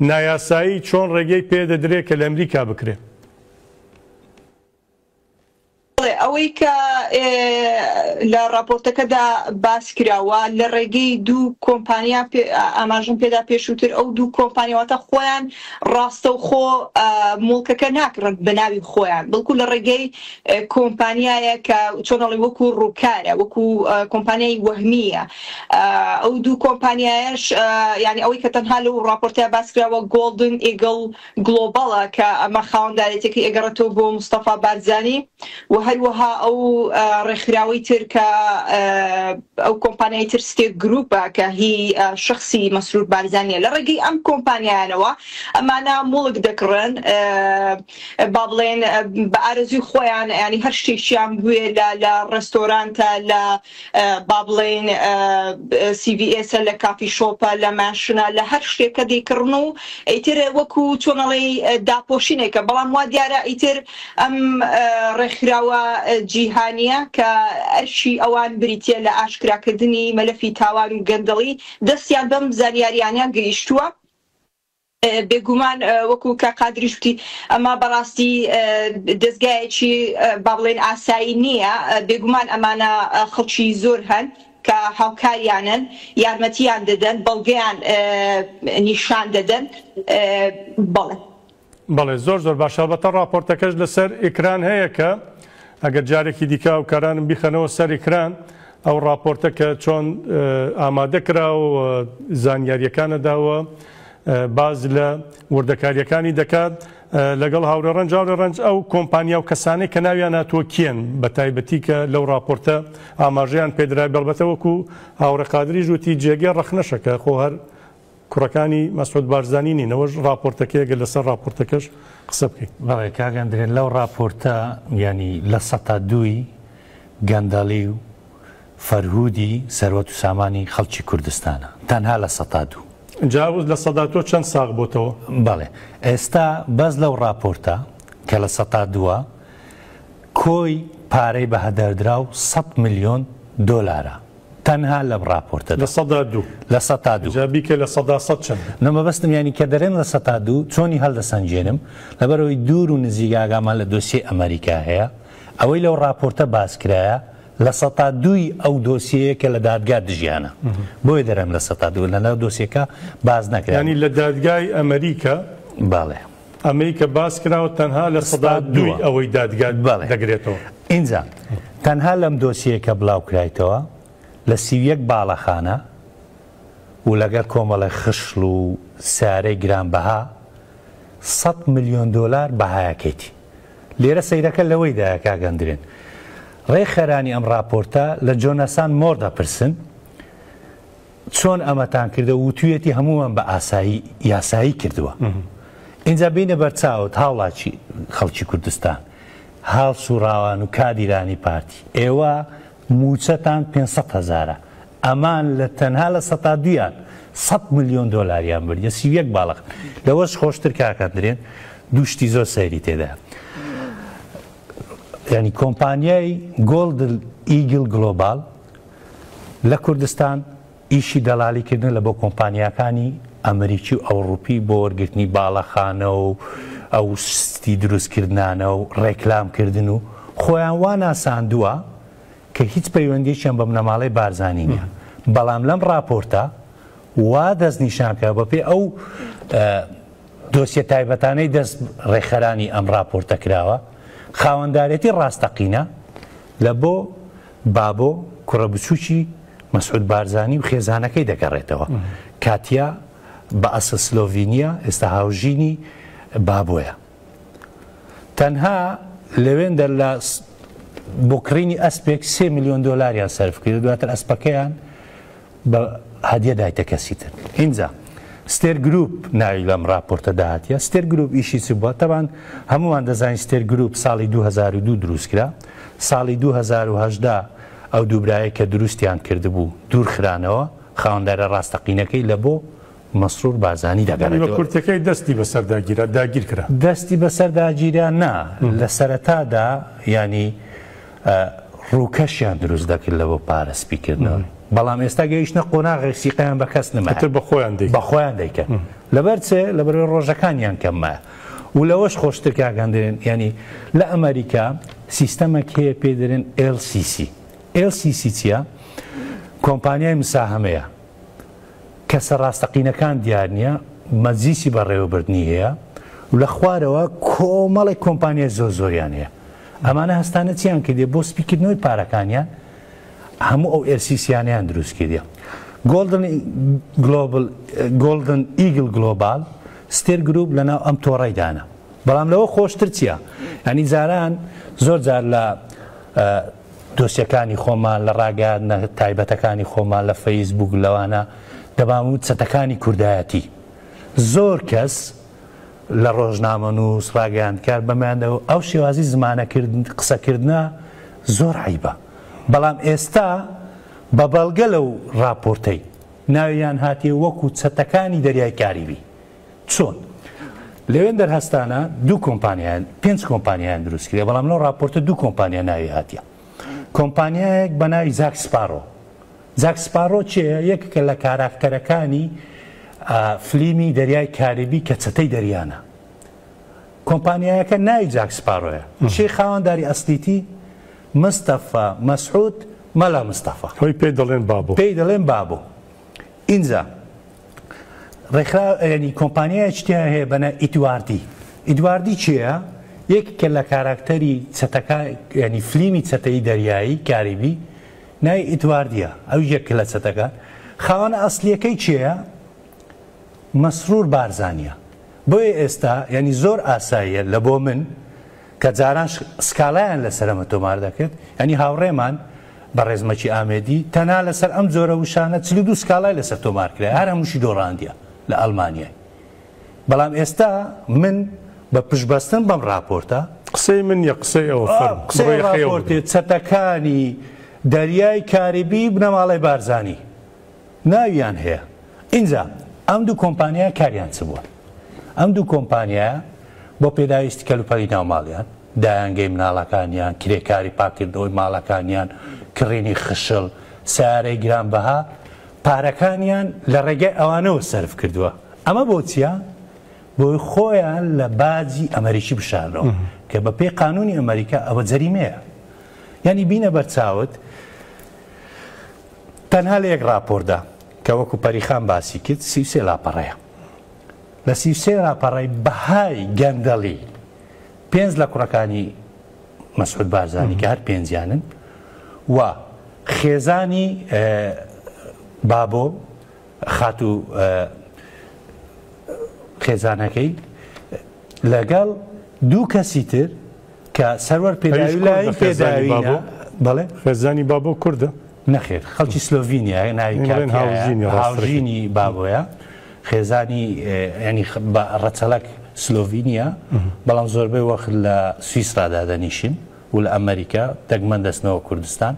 نایاسایی چۆن ڕێگەی پێ دەدرێت کە لە ئەمریکا بکرێت بەڵێ ئەوەی کە لە ڕاپۆرتەکەدا باس کراوە لە ڕێگەی دوو کۆمپانیا ئاماژم پێدا پێشووتر ئەو دوو کۆمپانیواتە خۆیان ڕاستە و خۆ مڵکەکە ناکڕن بە ناوی خۆیان بڵکو لە ڕێگەی کۆمپانیایە کە چۆنەڵی وەکو ڕووکارە وەکو کۆمپانیای وەهمیە ئەو دوو کۆمپانیایش یعنی ئەوەی کە تەنها لەو ڕاپۆرتە باسکراوە گۆڵدن ئیگەڵ گڵۆباڵە کە ئەمە خاوەندارێتیەکەی ئەگەڕێتەوە بۆ مستەفا بارزانی و هەروەها ئەو ڕێکخراوەی تر کە ئەو کۆمپانیای تر ستێک گروپە کە هی شخصی مەسرور بارزانیە لە ڕێگەی ئەم کۆمپانیانەوە ئەمانە موڵک دەکڕن با بڵێن بە ئارەزوی خۆیان ینی هەر شتێکیان بوێ لە ڕێستۆرانتە لە با بڵێین سی ڤی ئێسە لە کافی شۆپە لە ماشنە لە هەر شتێکە دەیکڕن و ئیتر وەکو چۆن ئەڵێی داپۆشینێکە بەڵام وا دیارە ئیتر ئەم ڕێکخراوە جیهانیە کە ئەرکی ئەوان بریتە لە ئاشکراکردنی مەلەفی تاوان و گەندەڵی دەستیان بەم زانیاریانە گەیشتووە بێگومان وەکو کاک قادریش وتی ئەمە بەڕاستی دەزگایەکی با بڵێین ئاسایی نییە، بێگومان ئەمانە خەڵکی زۆر هەن کە هاوکاریانن یارمەتیان دەدەن بەڵگەیان نیشان دەدەن بەڵێ. بەڵێ زۆر زۆر باشە ئەڵبەتە ڕاپۆرتەکەش لەسەر ئیکران هەیە کە ئەگەر جارێکی دیکە هاوکارانم بیخەنەوە سەر ئیکران ئەو ڕاپۆرتە کە چۆن ئامادە کراوە و زانیاریەکانە داوە باز لە وردەکاریەکانی دەکات لەگەڵ هاورێ ڕەنج هاورێ ڕەنج ئەو کۆمپانیا و کەسانەی کە ناویان ناتوە کێن بە تایبەتی کە لەو راپۆرتە ئاماژیان پێدرای بەڵبەتەوەکو هاوڕێ قادری ژووتی جێگەی ڕەخنەشەکە خۆ هەر کوڕەکانی مەسعود بارزانی نین ئەوەش ڕاپۆرتەکەی گەر لەسەر ڕاپۆرتەکەش قسە بکەی. بەڵێ کاک ئەندرێ لەو ڕاپۆرتە یانی لە سەتا دووی گەندەڵی و فەرهودی سەروەت و سامانی خەڵکی کوردستانە تەنها لە سەتا دوو. جا ئەو لە سەدا تۆ چەند ساغ بۆتەوە. بەڵێ ئێستا بەس لەو ڕاپۆرتە کە لە سەتا دووە کۆی پارەی بەهەدەردراو سەد ملیۆن دۆلارە. تەنها لەم ڕاپۆرتەدا. لە سەدا دوو. لە سەتا دوو. جا بیکە لە سەدا سەد چەند بوو. نە مەبەستم یانی کە دەرێم لە سەتا دوو چۆنی هەلدەسەنگێنم؟ لەبەرئەوەی دوور و نزیک ئاگامان لە دۆسیەی ئەمەریکا هەیە. ئەوەی لەو ڕاپۆرتە باس کرایە لە سەتا دووی ئەو دۆسیەیە کە لە دادگا دژیانە. بۆیە دەرێم لە سەتا دوو. لە ناو دۆسیەکە باس نەکرا. یانی لە دادگای ئەمەریکا. بەڵێ. ئەمەی کە باس کراوە تەنها لە سەدا دووی ئەوەی دادگا دەگرێتەوە. ئینجا تەنها لەم دۆسیەیە کە بلاو کرایتەوە لە سی و یەک باڵەخانە و لەگەر کۆمەڵێ خشڵ و سارەی گران بەها سەد ملیۆن دۆلار بەهایەکەیتی. لێرە سەیرەکە لەوەی دایە کاک ئەندرێن. ڕێکخەرانی ئەم ڕاپۆرتە لە جۆناسان مۆر دەپرسن، چۆن ئەمەتان کردە وتویەتی هەمووان بە ئاسایی یاسایی کردووە ئینجا بینە بەرچاوت هاوڵاتی خەڵکی کوردستان هاڵ سوڕاوان و کادیرانی پارتی ئێوە موچەتان 500 هزارە ئەمان لە تەنها لە سە تا دویان 100 میلیۆن دلاریان بردە سی یەک باڵق لەوەش خۆشتر کاکە درێن دوشتی زۆر سەیری تێدا ینی کۆمپانیای گۆلد ئیگل گلۆبال لە کوردستان ئیشی دەڵالی کردنە لە بۆ کۆمپانیاکانی ئەمریکی و ئەوڕوپی بۆ وەرگرتنی باڵەخانە و ئەو ستی دروستکردانە و ڕێکلام کردن و خۆیان وا ناساندووە کە هیچ پەیوەندیشیان بە بنەماڵەی بارزانانی نیە بەڵام لەم ڕاپۆرتە وا دەست نیشانکە بە پێ ئەو دۆسیە تایبەتانەی دەست ڕێکخەرانی ئەم ڕاپۆرتە کراوە خاوەندارێتی ڕاستەقینە لە بۆ بابۆ، کوڕە بچووکی مەسعود بارزانی و خێزانەکەی دەگەڕێتەوە. کاتیا، بە ئەسڵ سلۆڤینییە، ئێستا هاوژینی بابۆیە. تەنها لەوێندەر لە بۆ کڕینی ئەسپێک سێ ملیۆن دۆلاریان سەرفکرد، دواتر ئەسپەکەیان بە هەدیە دایتە کەسی تر ئینجا ستێر گروپ ناوی لەم راپۆرتە داهاتە ستێر گروپ ئیشی چ بووە تەبان هەمووان دەزانین ستێر گروپ ساڵی 2002 دروستکرا ساڵی 2010 ئەو دووبرایە کە دروستیان کردبوو دوورخرانەوە خاوەندارە ڕاستەقینەکەی لە بۆ مەسرور بارزانی دا گەڕێتەوە. نیوە کورتەکەی دەستی بەسەردا گیرا، داگیر کرا. دەستی بەسەردا گیرا نا، لە سەرەتادا یانی ڕووکەشیان دروست دەکرد لە بۆ پارە سپی کردنەوەی، بەڵام ئێستا گەیشتە قۆناغێک سیقەیان بە کەس نەمایە، ئیتر بە خۆیان دەیکەن، بە خۆیان دەیکەن. لەبەر چێ؟ لەبەرئەوەی ڕۆژەکانیان کەم مایە. و لەوەش خۆشتر کاک هەندێ، یانی لە ئەمەریکا سیستەمێک هەیە پێی دەرێن LCC. LCC چییە؟ کۆمپانیای مساهەمەیە. کەسە ڕاستەقینەکان دیار نییە، مەجلیسی بەڕێوەبردنی هەیە و لە خوارەوە کۆمەڵێک کۆمپانیای زۆر زۆریان هەیە، ئەمانە هەستانە چیان کردیە بۆ سپیکردنەوەی پارەکانیان هەموو ئەو ئێرسیسیانەیان دروست کردیە. گۆڵدن گلۆبل گۆڵدن ئیگل گلۆبال ستێر گروپ لەناو ئەم تۆڕەی دانە بەڵام لەوە خۆشتر چیە یانی جاران زۆر جار لە دۆسیەکانی خۆمان، لە ڕاگەیاندنە تایبەتەکانی خۆمان لە فەیس بووک، لەوانە دەمان ووت چەتەکانی کوردایەتی. زۆر کەس لە ڕۆژنامەنووس، ڕاگەیاندکار بەمیان دەگوت ئەو شێوازی زمانە کردن، قسە کردنە زۆر عەیبە. بەڵام ئێستا بە بەڵگە لەو ڕاپۆرتەی ناویان هاتیە وەکوو چەتەکانی دەریای کاریبی. چۆن؟ لەوێن دەرهەستانە دوو کۆمپانیان پێنج کۆمپانیان دروست کرێ بەڵام لەو راپۆرتە دوو کۆمپانیا ناوی هاتیە کۆمپانیایەک بە ناوی زاک سپارۆ زاک سپارۆ چێ یەککە لە کاراکتەرەکانی فلیمی دەریای کاریبی کە چەتەی دەریانە کۆمپانیایەکە ناوی جاک سپارۆیە شی خاوەنداری ئەسلیتی مستەفا مەسعود مەلا مستەفا خۆی پێ دەڵێن بابۆ پێی دەڵێن بابۆ ئینجا ڕێکخرا یانی کۆمپانیایەکی تیا هەیە بە نا ئیدواردی ئیدواردی کێیە یەکێکە لە کاراکتەری چەتەکا یانی فلیمی چەتەی دەریایی کاریبی ناوی ئیدواردیە ئەو یەکە لە چەتەکە خاوەنە ئەسڵیەکەی کێیە مەسرور بارزانیە بۆیە ئێستا یانی زۆر ئاساییە لە بۆ من کە جاران سکاڵایان لەسەرەمە تۆمار دەکرد، یانی هاوڕێمان، بەڕێز مەکی ئامێدی، تەنها لەسەر ئەم جۆرە وشانە چل و دوو سکاڵای لەسەر تۆمار کرایە، هەر هەمووشی دۆڕاندیە لە ئەڵمانیای. بەڵام ئێستا من بە پشتبەستن بەم ڕاپۆرتە. قسەی من نیە، قسەی ئەوە، فەرموو. قسەی ئەو ڕاپۆرتەیە چەتەکانی دەریای کاریبی بنەماڵەی بارزانی ناویان هەیە ئینجا ئەم دوو کۆمپانیایە کاریان چ بووە ئەم دوو کۆمپانیایە بۆ پێداویستی کەلوپەلی ناو ماڵیان دایانگەی مناڵەکانیان کرێکاری پاکردنەوەی ماڵەکانیان کڕینی خشڵ سەیارەی گران بەها پارەکانیان لە ڕێگای ئەوانەوە سەرف کردووە ئەمە بۆچیە بۆی خۆیان لە باجی ئەمەریکی بشارنەوە کە بە پێی قانونی ئەمەریکا ئەوە جەریمەیە یعنی بینە بەرچاوت تەنها لە یەک ڕاپۆردا کە وەکو پەریخان باسی کرد سی و سێ لاپەڕەیە لە سی و سێ لاپەڕەی بەهای گەندەڵی پێنج لە کوڕەکانی مەسعود بارزانی کە هەر پێنجیانن و خێزانی بابۆ خاتو خێزانەکەی لەگەڵ دوو کەسی تر کە سەروەر پێداوی لایەن پێداوینە بەڵێ خێزانی بابۆ کوردە نەخێر خەڵکی سلۆڤینیا ناوی هاوژینی بابۆیە خێزانی ینی ڕەچەلک سلۆڤینیا بەڵام زۆربەی وەخت لە سویسرادا دەنیشین و لە ئەمریکا دەگمەن دەستنەوە کوردستان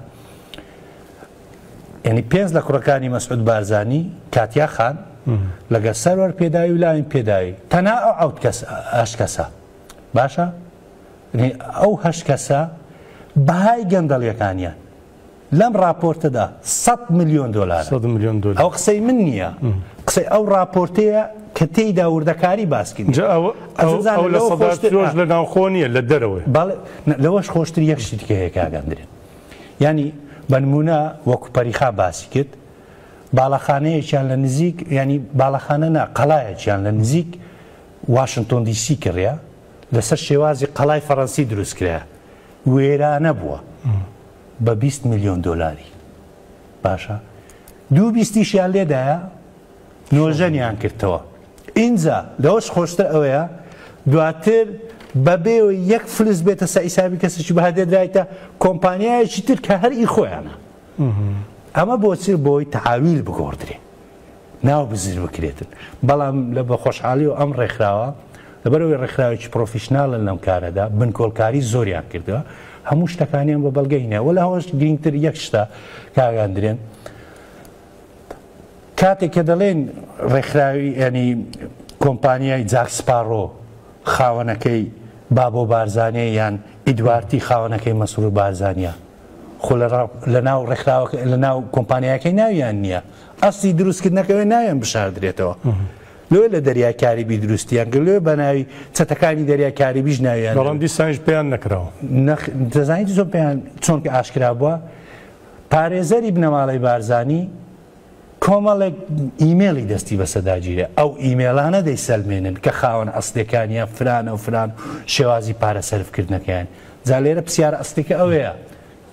ینی پێنج لە کوڕەکانی مەسعود بارزانانی کاتیا خان لەگە سەروەر پێداوی و لاوین پێداوی تەنا ئەو ئەوت کەس ئەش کەسە باشە یعنی ئەو هەشت کەسە بەهای گەندەڵیەکانیان لەم راپۆرتەدا 100 میلیۆن دلار میلیۆن دلار ئەو قسەی من نییە قسەی ئەو راپۆرتەیە کە تێیدا وردەکاری باسکین لە ناوخۆ نیە لە دەرەوەی لەوەش خۆشتر یەک شتیکە هەیە کاگەندرێن ینی بەنمونە وەکو پەریخا باسی کرد باڵەخانەیەکیان لە نزیک ینی باڵەخانە نا قەلایەکیان لە نزیک واشنتۆن دی سی کڕیا لەسەر شێوازی قەڵای فەڕەنسی دروست کرایە وێرانە بووە بە بیست ملیۆن دۆلاری باشە دوو بیستیشیان لێدایە نۆژەنیان کردەوە ئینجا لەوەش خۆشتر ئەوەیە دواتر بەبێ یەک فلس بێتە سە ئیسابی کەسێکی بە دێدرایتە کۆمپانیایەکی تر کە هەر ئی خۆیانە ئەمە بۆچی بۆی تعاویل بگۆڕدرێ ناوبزر بکرێتن بەڵام لە بە خۆشحالی و ئەم ڕێکخراوە لەبەرەوەی ڕێکخراوێکی پرۆفیشنالن لەم کارەدا بنکۆڵکاری زۆریان کردووە هەموو شتەکانیان بە بەڵگەینە وە لە هەوەش گرنگتر یەک شتە کاگاندرێن کاتێک کە دەڵێن ڕێکخراوی ینی کۆمپانیای جاکسپاڕۆ خاوەنەکەی بابۆ بارزانێ یان ئیدوارتی خاوەنەکەی مەسرور بارزانیا خۆ لە ناو ڕێکخراوەکە لە ناو کۆمپانیاکەی ناویان نییە ئەسڵی دروستکردنەکەوێ ناویان بشاردرێتەوە لۆیە لە دەریای کاریبی دروستیان کرد لۆیە بە ناوی چەتەکانی دەریای کاریبیش ناویان بەڵام دەبێت. دیسانیش پێیان نەکراوە نەخ- دەزانیت زۆر پێیان چۆن کە ئاشکرا بووە پارێزەری بنەماڵەی بارزانی کۆمەڵێک ئیمێڵی دەستی بەسەداگیرە ئەو ئیمێڵانە دەیسەلمێنن کە خاوەن ئەسلەکانیان فرانە و فران شێوازی پارە سەرفکردنەکەیان جا لێرە پرسیارە ئەسلەکە ئەوەیە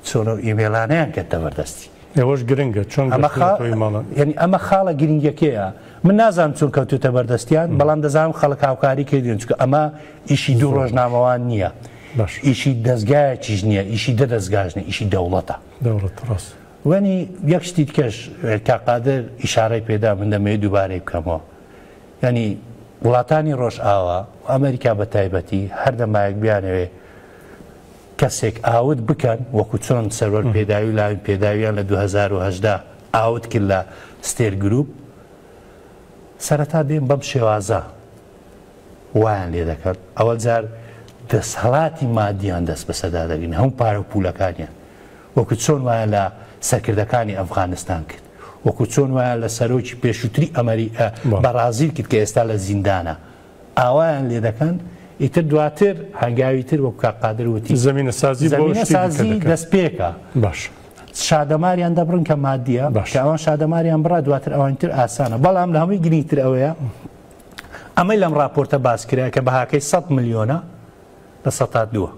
چۆن ئەو ئیمەیڵانەیان کەتتە بەردەستی؟ ئەوەش گرنگە چۆن ئەمە گەشتنە خا... تۆی مەڵن؟ یعنی ئەمە خاڵە گرنگەکەیە من نازانم چۆن کەوتوتە بەردەستیان بەڵام دەزانم خەڵک هاوکاری کردوێن چکە ئەمە ئیشی دوو ڕۆژنامەوان نییە باش ئیشی دەستگایەکیش نییە ئیشی دە دەستگاش نیە ئیشی دەوڵەتە دەوڵەت ڕاست وەنی یەک شتی کەش کاقادر ئیشارەی پێدا من دەمەوێت دووبارەی بکەمەوە ینی وڵاتانی ڕۆژ ئاوا و ئەمریکا بە تایبەتی هەردەمایەک بیانەوێ کەسێک ئاوت بکەن وەکو چۆن سەروەر پێداوی و لاوین پێداویان لە دوو هەزار و هەژدە ئاوت کرد لە ستێر گروپ سەرەتا دێن بەم شێوازە وایان لێ دەکەن ئەوە جار دەسهڵاتی مادیان دەست بەسەدا دەگرن هەم پارە و پولەکانیان وەکو چۆن وایە لە سەرکردەکانی ئەفغانستان کرد وەکو چۆن وایە لە سەرۆکی پێشووتری ئەمەری بەڕازیل کرد کە ئێستا لە زیندانە ئاوایان لێ دەکەن ئیتر دواتر هەنگاوی تر وەک کاک قادر وتی زمینە سازی بۆ زمینە شتی دیکە سازی دەکەن. دەست پێکە باش شادەماریان دەبڕن کە مادیە باش. کە ئەوان شادەماریان بڕا دواتر ئەوانی تر ئاسانە بەڵام لە هەمووی گرنگتر ئەوەیە ئەمەی لەم راپۆرتە باس کرا کە بەهاکەی 100 ملیۆنە لە سەتا دووە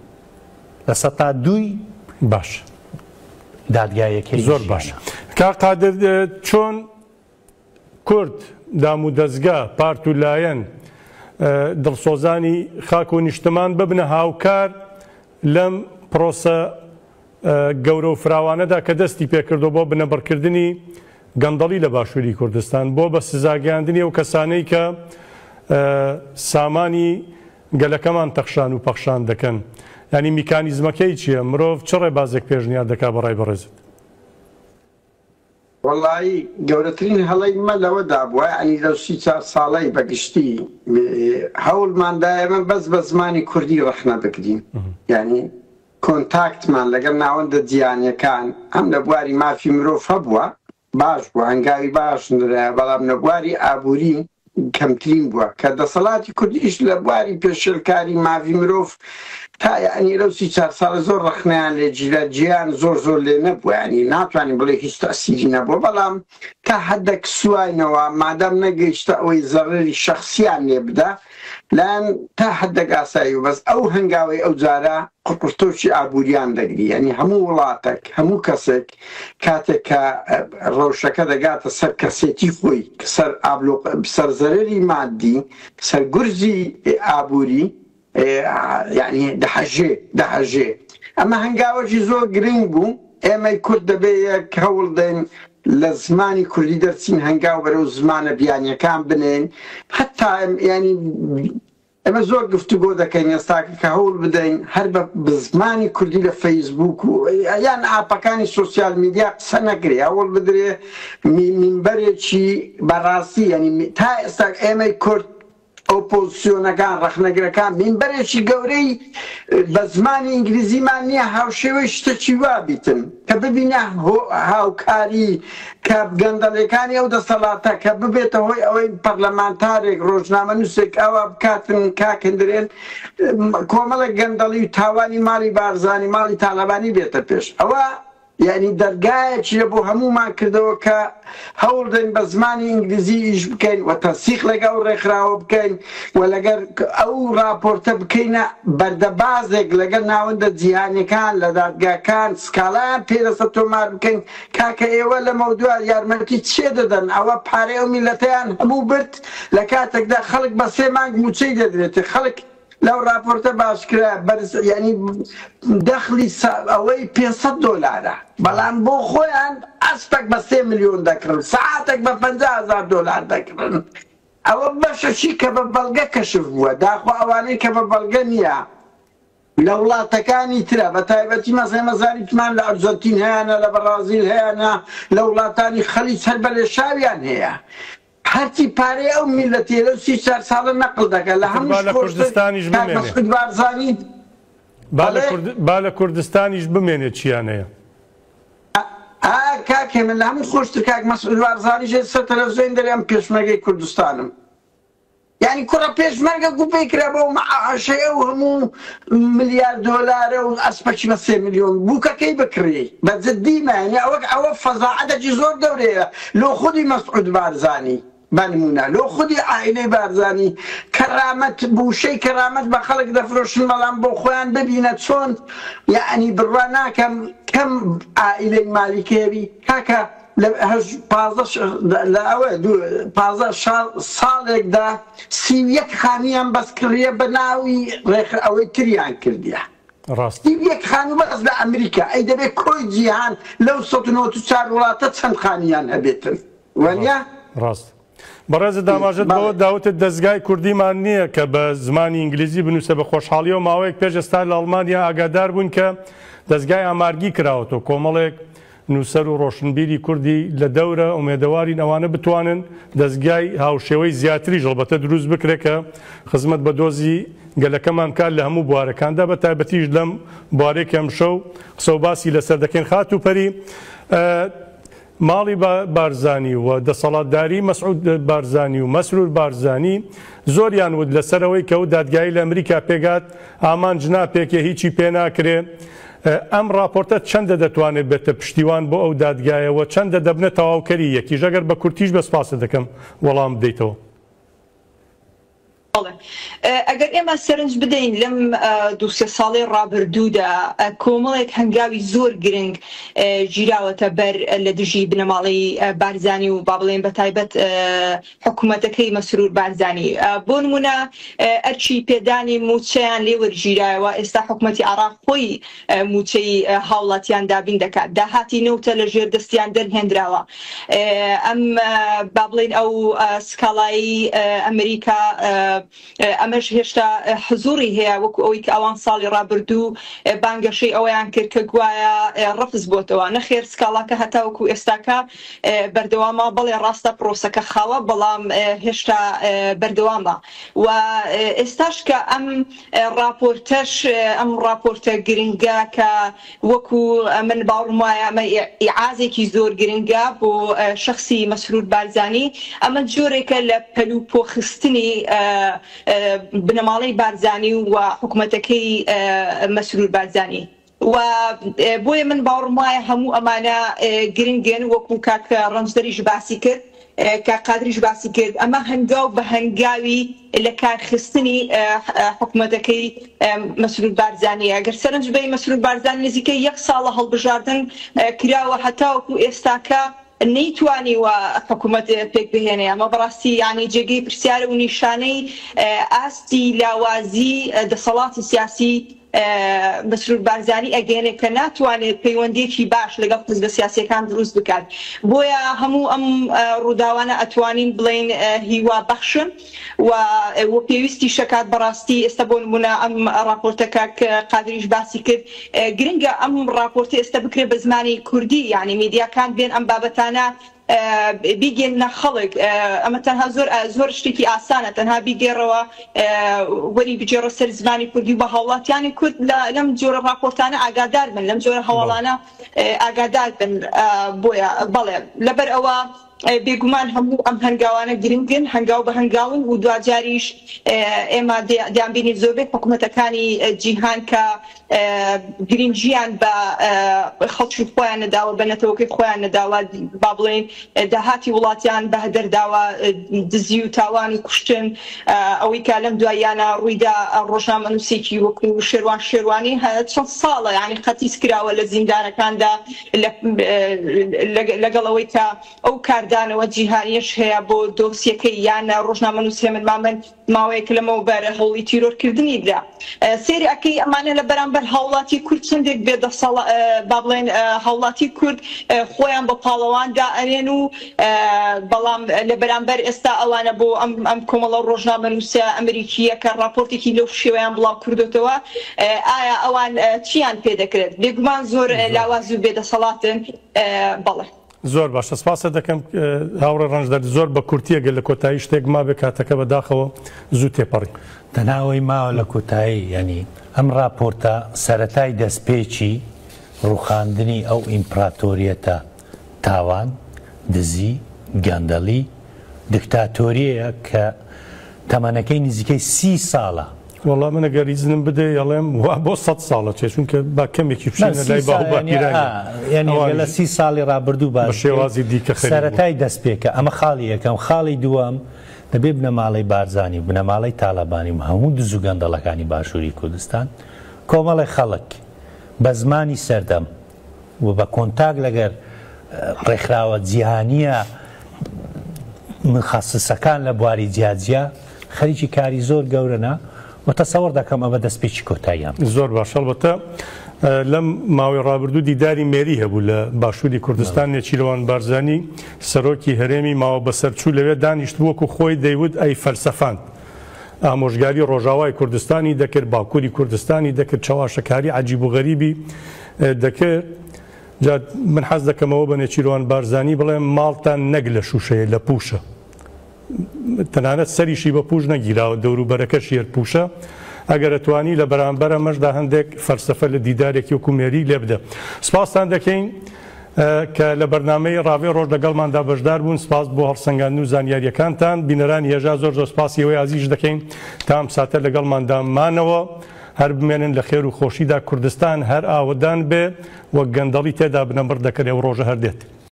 لە سەتا دووی باش دادگایەکەی زۆر باش ژیانە. کا قادر اه، چۆن کورد، دامودەزگا، پارت و لایەن، دڵسۆزانی خاک و نیشتمان ببنە هاوکار لەم پرۆسە گەورە و فراوانەدا کە دەستی پێکردووە بۆ بنەبڕکردنی گەندەڵی لە باشووری کوردستان، بۆ بە سزاگەیاندنی ئەو کەسانەی کە سامانی گەلەکەمان تەخشان و پەخشان دەکەن. یانی میکانیزمەکەی چییە؟ مرۆڤ چ ڕێبازێک پێشنیار دەکات بە ڕای بەڕێزت؟ وەڵایی گەورەترین هەڵەی مە لەوە دابوە یەعنی لەو سی چار ساڵەی بە گشتی هەوڵمان دا ئێمە بەس بە زمانی کوردی ڕەخنە بگرین یەعنی کۆنتاکتمان لەگەڵ ناوەندە جیهانیەکان هەم لە بواری مافی مرۆڤ هەبوە باش بوە هەنگاوی باش نرایە بەڵام لە بواری ئابوری کەمترین بووە کە دەسەڵاتی کورد ئیش لە بواری پێشێلکاری ماڤی مرۆڤ تا یەعنی لەو سی چار ساڵە زۆر ڕەخنەیان لێ جیرا جێیان زۆر زۆر لێ نەبووە یەعنی ناتوانین بڵێ هیچ تەئسیری نەبووە بەڵام تا حەدەک سواینەوە مادام نەگەیشتە ئەوەی زەڕەری شەخسیان لێ بدا لایان تا حەدەک ئاسایی و بەس ئەو هەنگاوەی ئەو جارە قڕقڕتۆکی ئابووریان دەگری یەعنی هەموو وڵاتەک هەموو کەسێک کاتێک کە ڕەوشەکە دەگاتە سەر کەسێتی خۆی سەر ئابلۆ سەر زەرری مادی سەر گورزی ئابووری یعنی دەحەژێ دەحەژێ ئەمە هەنگاوەشی زۆر گرنگ بوو ئێمەی کورد دەبێ یەک هەوڵ دەین لە زمانی کوردی دەرچین هەنگاو بەرەو زمانە بیانیەکان بنێن حتا ینی ئێمە زۆر گفتوگۆ دەکەین ئێستاکە کە هەوڵ بدەین هەر بە بزمانی کوردی لە فەیسبووک و یان ئاپەکانی سۆسیال میدیا قسە نەکرێ هەوڵ بدرێ مینبەرێکی بەڕاستی یعنی تا ئێستا ئێمەی کورد ئۆپۆزسیۆنەکان ڕەخنەگرەکان مینبەرێکی گەورەی بە زمانی ئینگلیزیمان نییە هاوشێوەی شتەکی وابیتن کە ببینە هاوکاری کە گەندەڵیەکانی ئەو دەسەڵاتە کە ببێتە هۆی ئەوەی پەرلەمانتارێک ڕۆژنامە نووسێک ئاوا بکاتن کاکندرێن کۆمەڵێک گەندەڵی و تاوانی ماڵی بارزانانی ماڵی تاالبانی بێتە پێش ئەوە یعنی دەرگایەکی لە بۆ هەمومان کردەوە کە هەوڵدەین بە زمانی ئینگلیزی ئیش بکەین و تەنسیق لەگەڵ ئەو ڕێکخراوە بکەین و لەگەر ئەو ڕاپۆرتە بکەینە بەردەبازێک لەگەل ناوەندە جیهانیەکان لە دادگاکان سکاڵایان پێرەسە تۆمار بکەین کاکە ئێوە لەمەودوا یارمەتی چێ دەدەن ئەوە پارەی ئەو میلەتەیان هەموو برد لە کاتەکدا خەڵک بە سێ مانگ موچەی دەدرێتێ خەڵک لەو ڕاپۆرتە باسکرا بەرزەیانی دەخلی سا ئەوەی پێنج سەد دۆلارە بەڵام بۆ خۆیان ئەسپەک بە سێ ملیۆن دەکڕن سەعاتەک بە پەنجا هەزار دۆلار دەکڕن ئەوە بەشەشی کە بە بەڵگە کەشف بووە داخۆ ئەوانەی کە بە بەڵگە نییە لە وڵاتەکانی ترە بە تایبەتی مەسەی مەزاریتمان لە ئەرجەنتین هەیانە لە بەڕازیل هەیانە لە وڵاتانی خەلیج هەر بە لێشاویان هەیە هەرچی پارەی ئەو میلەتیە لەو سی چار ساڵە نەقل دەکا لە هەموو شت خۆشتر کاک مەسعود بارزانی بەڵێ با لە کوردستانیش بمێنێ چیان هەیە. ئا کاک هێمن لە هەمووی خۆشتر کاک مەسعود بارزانیش لە سەر تەلەفزیۆن دەرێ ئەم پێشمەرگەی کوردستانم. یانی کوڕە پێشمەرگە گوپەی کرا بەو مەعاشەیە و هەموو ملیار دۆلارە و ئەسپەکی بە سێ ملیۆن بووکەکەی بکڕی بە جدی مە یانی ئەوە ئەوە فەزاعەتەکی زۆر گەورەیە لۆ خودی مەسعود بارزانی بە نموونە لۆ خودی عائیلەی بارزانی کەرامەت بوشەی کەرامەت بە خەڵک دەفرۆشن بەڵام بۆ خۆیان ببینە چۆن یانی بڕوا ناکەم کەم عائیلەی مالیک هەبی کاکە لە هەژ پازدە ش لە ئەوە دوو پازدە شا ساڵێکدا سی و یەک خانوویان بەس کڕیە بە ناوی ڕێکخ ئەوەی تریان کردیە ڕاستە سی و یەک خانوو بەس لە ئەمریکا ئەی دەبێ کۆی جیهان لەو سەد و نەوەد و چار وڵاتە چەند خانوویان هەبێتن وەنیە ڕاست ڕاستە بەڕێزت داماژەت بەوە دا وتت دەزگای کوردیمان نییە کە بە زمانی ئینگلیزی بنووسێ بە خۆشحاڵیەوە ماوەیەک پێش ئێستا لە ئەڵمانیا ئاگادار بووین کە دەزگای ئامارگی کراوەتەوە کۆمەڵێک نووسەر و ڕۆشنبیری کوردی لە دەورە ئومێدەوارین ئەوانە بتوانن دەزگای هاوشێوەی زیاتریش هەڵبەتە دروست بکرێت کە خزمەت بە دۆزی گەلەکەمان بکات لە هەموو بوارەکاندا بە تایبەتیش لەم بوارێک ئەمشەو قسە و باسی لەسەر دەکەین خاتوو پەری ماڵی بارزانی و دەسەڵاتداری مەسعود بارزانی و مەسرور بارزانی زۆریان وت لەسەر ئەوەی کە و دادگایی لە ئەمریکا پێگات ئامانج ناپێکێ هیچی پێ ناکرێ ئەم ڕاپۆرتە چەندە دەتوانێ بێتە پشتیوان بۆ ئەو دادگایە وە چەندە دەبنە تەواوکەری یەکیش ئەگەر بە کورتیش بە سپاست دەکەم وەڵام بدەیتەوە. بەڵێ ئەگەر ئێمە سەرنج بدەین لەم دوو سێ ساڵەی ڕابردوودا کۆمەڵێک هەنگاوی زۆر گرنگ گیراوەتە بەر لە دژی بنەماڵەی بارزانی و با بڵێن بە تایبەت حکوومەتەکەی مەسرور بارزانی بۆ نمونە ئەرچی پێدانی مووچەیان لێ وەرگیرایەوە ئێستا حکوومەتی عێراق خۆی مووچەی هاوڵاتیان دابین دەکات داهاتی نەوتە لە ژێر دەستیان دەرهێنراوە ئەم با بڵین ئەو سکاڵایی ئەمریکا ئەمەش هێشتا حزوری هەیە وەکو ئەوی کە ئەوان ساڵی ڕابردوو بانگەشەی ئەویان کرد کە گوایە ڕفز بۆتەوە نەخێر سکاڵاکە هەتا وەکو ئێستاکە بەردەوامە بەڵێ ڕاستە پرۆسەکە خاوە بەڵام هێشتا بەردەوامە و ئێستاش کە ئەم ڕاپۆرتەش ئەم ڕاپۆرتە گرنگە کە وەکو من باوڕم وایە ئەمە ئیعازێکی زۆر گرنگە بۆ شخصی مەسرور بارزانی ئەمە جۆرێکە لە پەل و پۆخستنی بنەماڵەی بارزانی و حکوومەتەکەی مەسرور بارزانی وە بۆیە من باوڕم وایە هەموو ئەمانە گرنگن وەکو کاک ڕەنجدەریش باسی کرد کاک قادریش باسی کرد ئەمە هەنگاو بە هەنگاوی لە کارخستنی حکومەتەکەی مەسرور بارزانانی ئەگەر سەرنج بی مەسرور بارزان نزیکە یەک ساڵە هەڵبژاردن کراوە هەتاوەکو ئێستاکە نەیتوانی و حکوومەت پێک بهێنێ ئەمە بەڕاستی یعنی جێگەی پرسیارە و نیشانەی ئاستی لاوازی دەسەڵاتی سیاسی مەسرور بارزانی ئەگەیەنێت کە ناتوانێت پەیوەندیەکی باش لەگەڵ حزبە سیاسیەکان دروست بکات بۆیە هەموو ئەم ڕووداوانە ئەتوانین بڵێین هیوا بەخشن و و پێویستیشە کات بەڕاستی ئێستا بۆ نمونە ئەم ڕاپۆرتە کاک قادریش باسی کرد گرنگە ئەم ڕاپۆرتی ئێستا بکرێت بە زمانی کوردی یعنی میدیاکان بێن ئەم بابەتانە بیگێننە خەڵک ئەمە تەنها زۆر زۆر شتێکی ئاسانە تەنها بیگێڕەوە وەری بجێڕە سەر زمانی کوردی بە هاوڵاتیانی کورد لەم جۆرە راپۆرتانە ئاگادار بن لەم جۆرە هەواڵانە ئاگادار بن بۆیە بەڵێ لەبەر ئەوە بێگومان هەموو ئەم هەنگاوانە گرنگن هەنگاو بە هەنگاون و دواجاریش ئێمە دیانبینی زۆربەی حکوومەتەکانی جیهان کە گرنگیان بە خەڵکی خۆیان نەداوە بە نەتەوەکەی خۆیان نەداوە با بڵێین داهاتی وڵاتیان بە هەدەر داوە دزی و تاوان و کوشتن ئەوەی کا لەم دواییانە ڕوویدا ڕۆژنامەنووسێکی وەکو شێروان شێروانی هە چەند ساڵە یعنی قەتیس کراوە لە زیندانەکاندا لەگەڵ ئەوەی کە ئەو کاردانەوە جیهانیش هەیە بۆ دۆسیەکەی یان ڕۆژنامەنووس هێمن مامن ماوەیەک لەمەوبەر هەوڵی تیرۆر کردنی درا سێری ئەکەی ئەمانە لە بەرامبەر هاوڵاتی کورد چندێک بێ دەسەڵ با بڵێن هاوڵاتی کورد خۆیان بە پاڵەوان دا ئەرێن و بەڵام لە بەرامبەر ئێستا ئەوانە بۆ ئەم ئەم کۆمەڵە ڕۆژنامە نووسە ئەمریکیە کە ڕاپۆرتێکی لەو شێوەیان بڵاو کردوتەوە ئایا ئەوان چیان پێ دەکرێت بێگومان زۆر لاواز و بێدەسەڵاتن بەڵێ زۆر باشە سپاست دەکەم هاوڕێ ڕەنجدەر زۆر بە کورتیە گەر لە کۆتایی شتێک مابێ کاتەکە بەداخەوە زوو تێپەڕی. دەناوەی ماوە لە کۆتایی یانی ئەم ڕاپۆرتە سەرەتای دەستپێکی ڕوخاندنی ئەو ئیمپڕاتۆریەتە تاوان، دزی، گەندەڵی، دکتاتۆریەیە کە تەمەنەکەی نزیکەی سی ساڵە وەڵا من گەر ئیزنم بدەی ئەڵێم وا بۆ سەد ساڵە چێ چونکە با کەمێکی بچینە لای باو با پیرانیان یانی ئەوان لە سی ساڵی ڕابردوو با بە شێوازی دیکە خەریک بوون. سەرەتای دەست پێکە ئەمە خاڵی یەکەم خاڵی دووەم دەبێ بنەماڵەی بارزانی و بنەماڵەی تاڵەبانی و هەموو دز و گەندەڵەکانی باشووری کوردستان کۆمەڵێ خەڵک بە زمانی سەردەم و بە کۆنتاک لەگەر ڕێکخراوە جیهانییە مخصصەکان لە بواری جیاجیا خەریکی کاری زۆر گەورەە و تەسەوەڕ دەکەم ئەمە دەستپێکی کۆتاییان زۆر باشەڵبەتە لەم ماوەی ڕابردوو دیداری مێری هەبوو لە باشووری کوردستان نێچیرەوان بارزانانی سەرۆکی هەرێمی ماوە بەسەرچوو لەوێ دانیشت بووک و خۆی دەیوت ئەی فەلسەفاند. ئامۆژگاری ڕۆژاوای کوردستانی دەکرد باکووری کوردستانی دەکرد چاواشەکاری عجیب و غەریبی دەکرد جا من حەز دەکەمەوە بە نێچیروان بارزانی بڵێم ماڵتان نەک لە شوشەیە لە پوشە تەنانەت سەریشی بە پوش نەگیراوە دەوروبەرەکەش یەر پوشە ئەگەرەتوانی لە بەرامبەرە مەشدا هەندێک فەرسەفە لە دیدارێکی وکومێری لێ بدە سپاستان دەکەین کە لە بەرنمەی ڕاوێ ڕۆژ لەگەڵماندا بەشدار بوون سپاس بۆ هەڵسەنگاند و زانیاریەکانتان بینەرانی هێژا زۆر زۆر سپاسی ئەوەی عزیش دەکەین تام ساتە لەگەڵماندامانەوە. هەر بمێنن لە خێر و خۆشیدا کوردستان هەر ئاوەدان بێ و گەندەڵی تێدا بنەبڕ دەکەێ و ڕۆژە هەر دێت.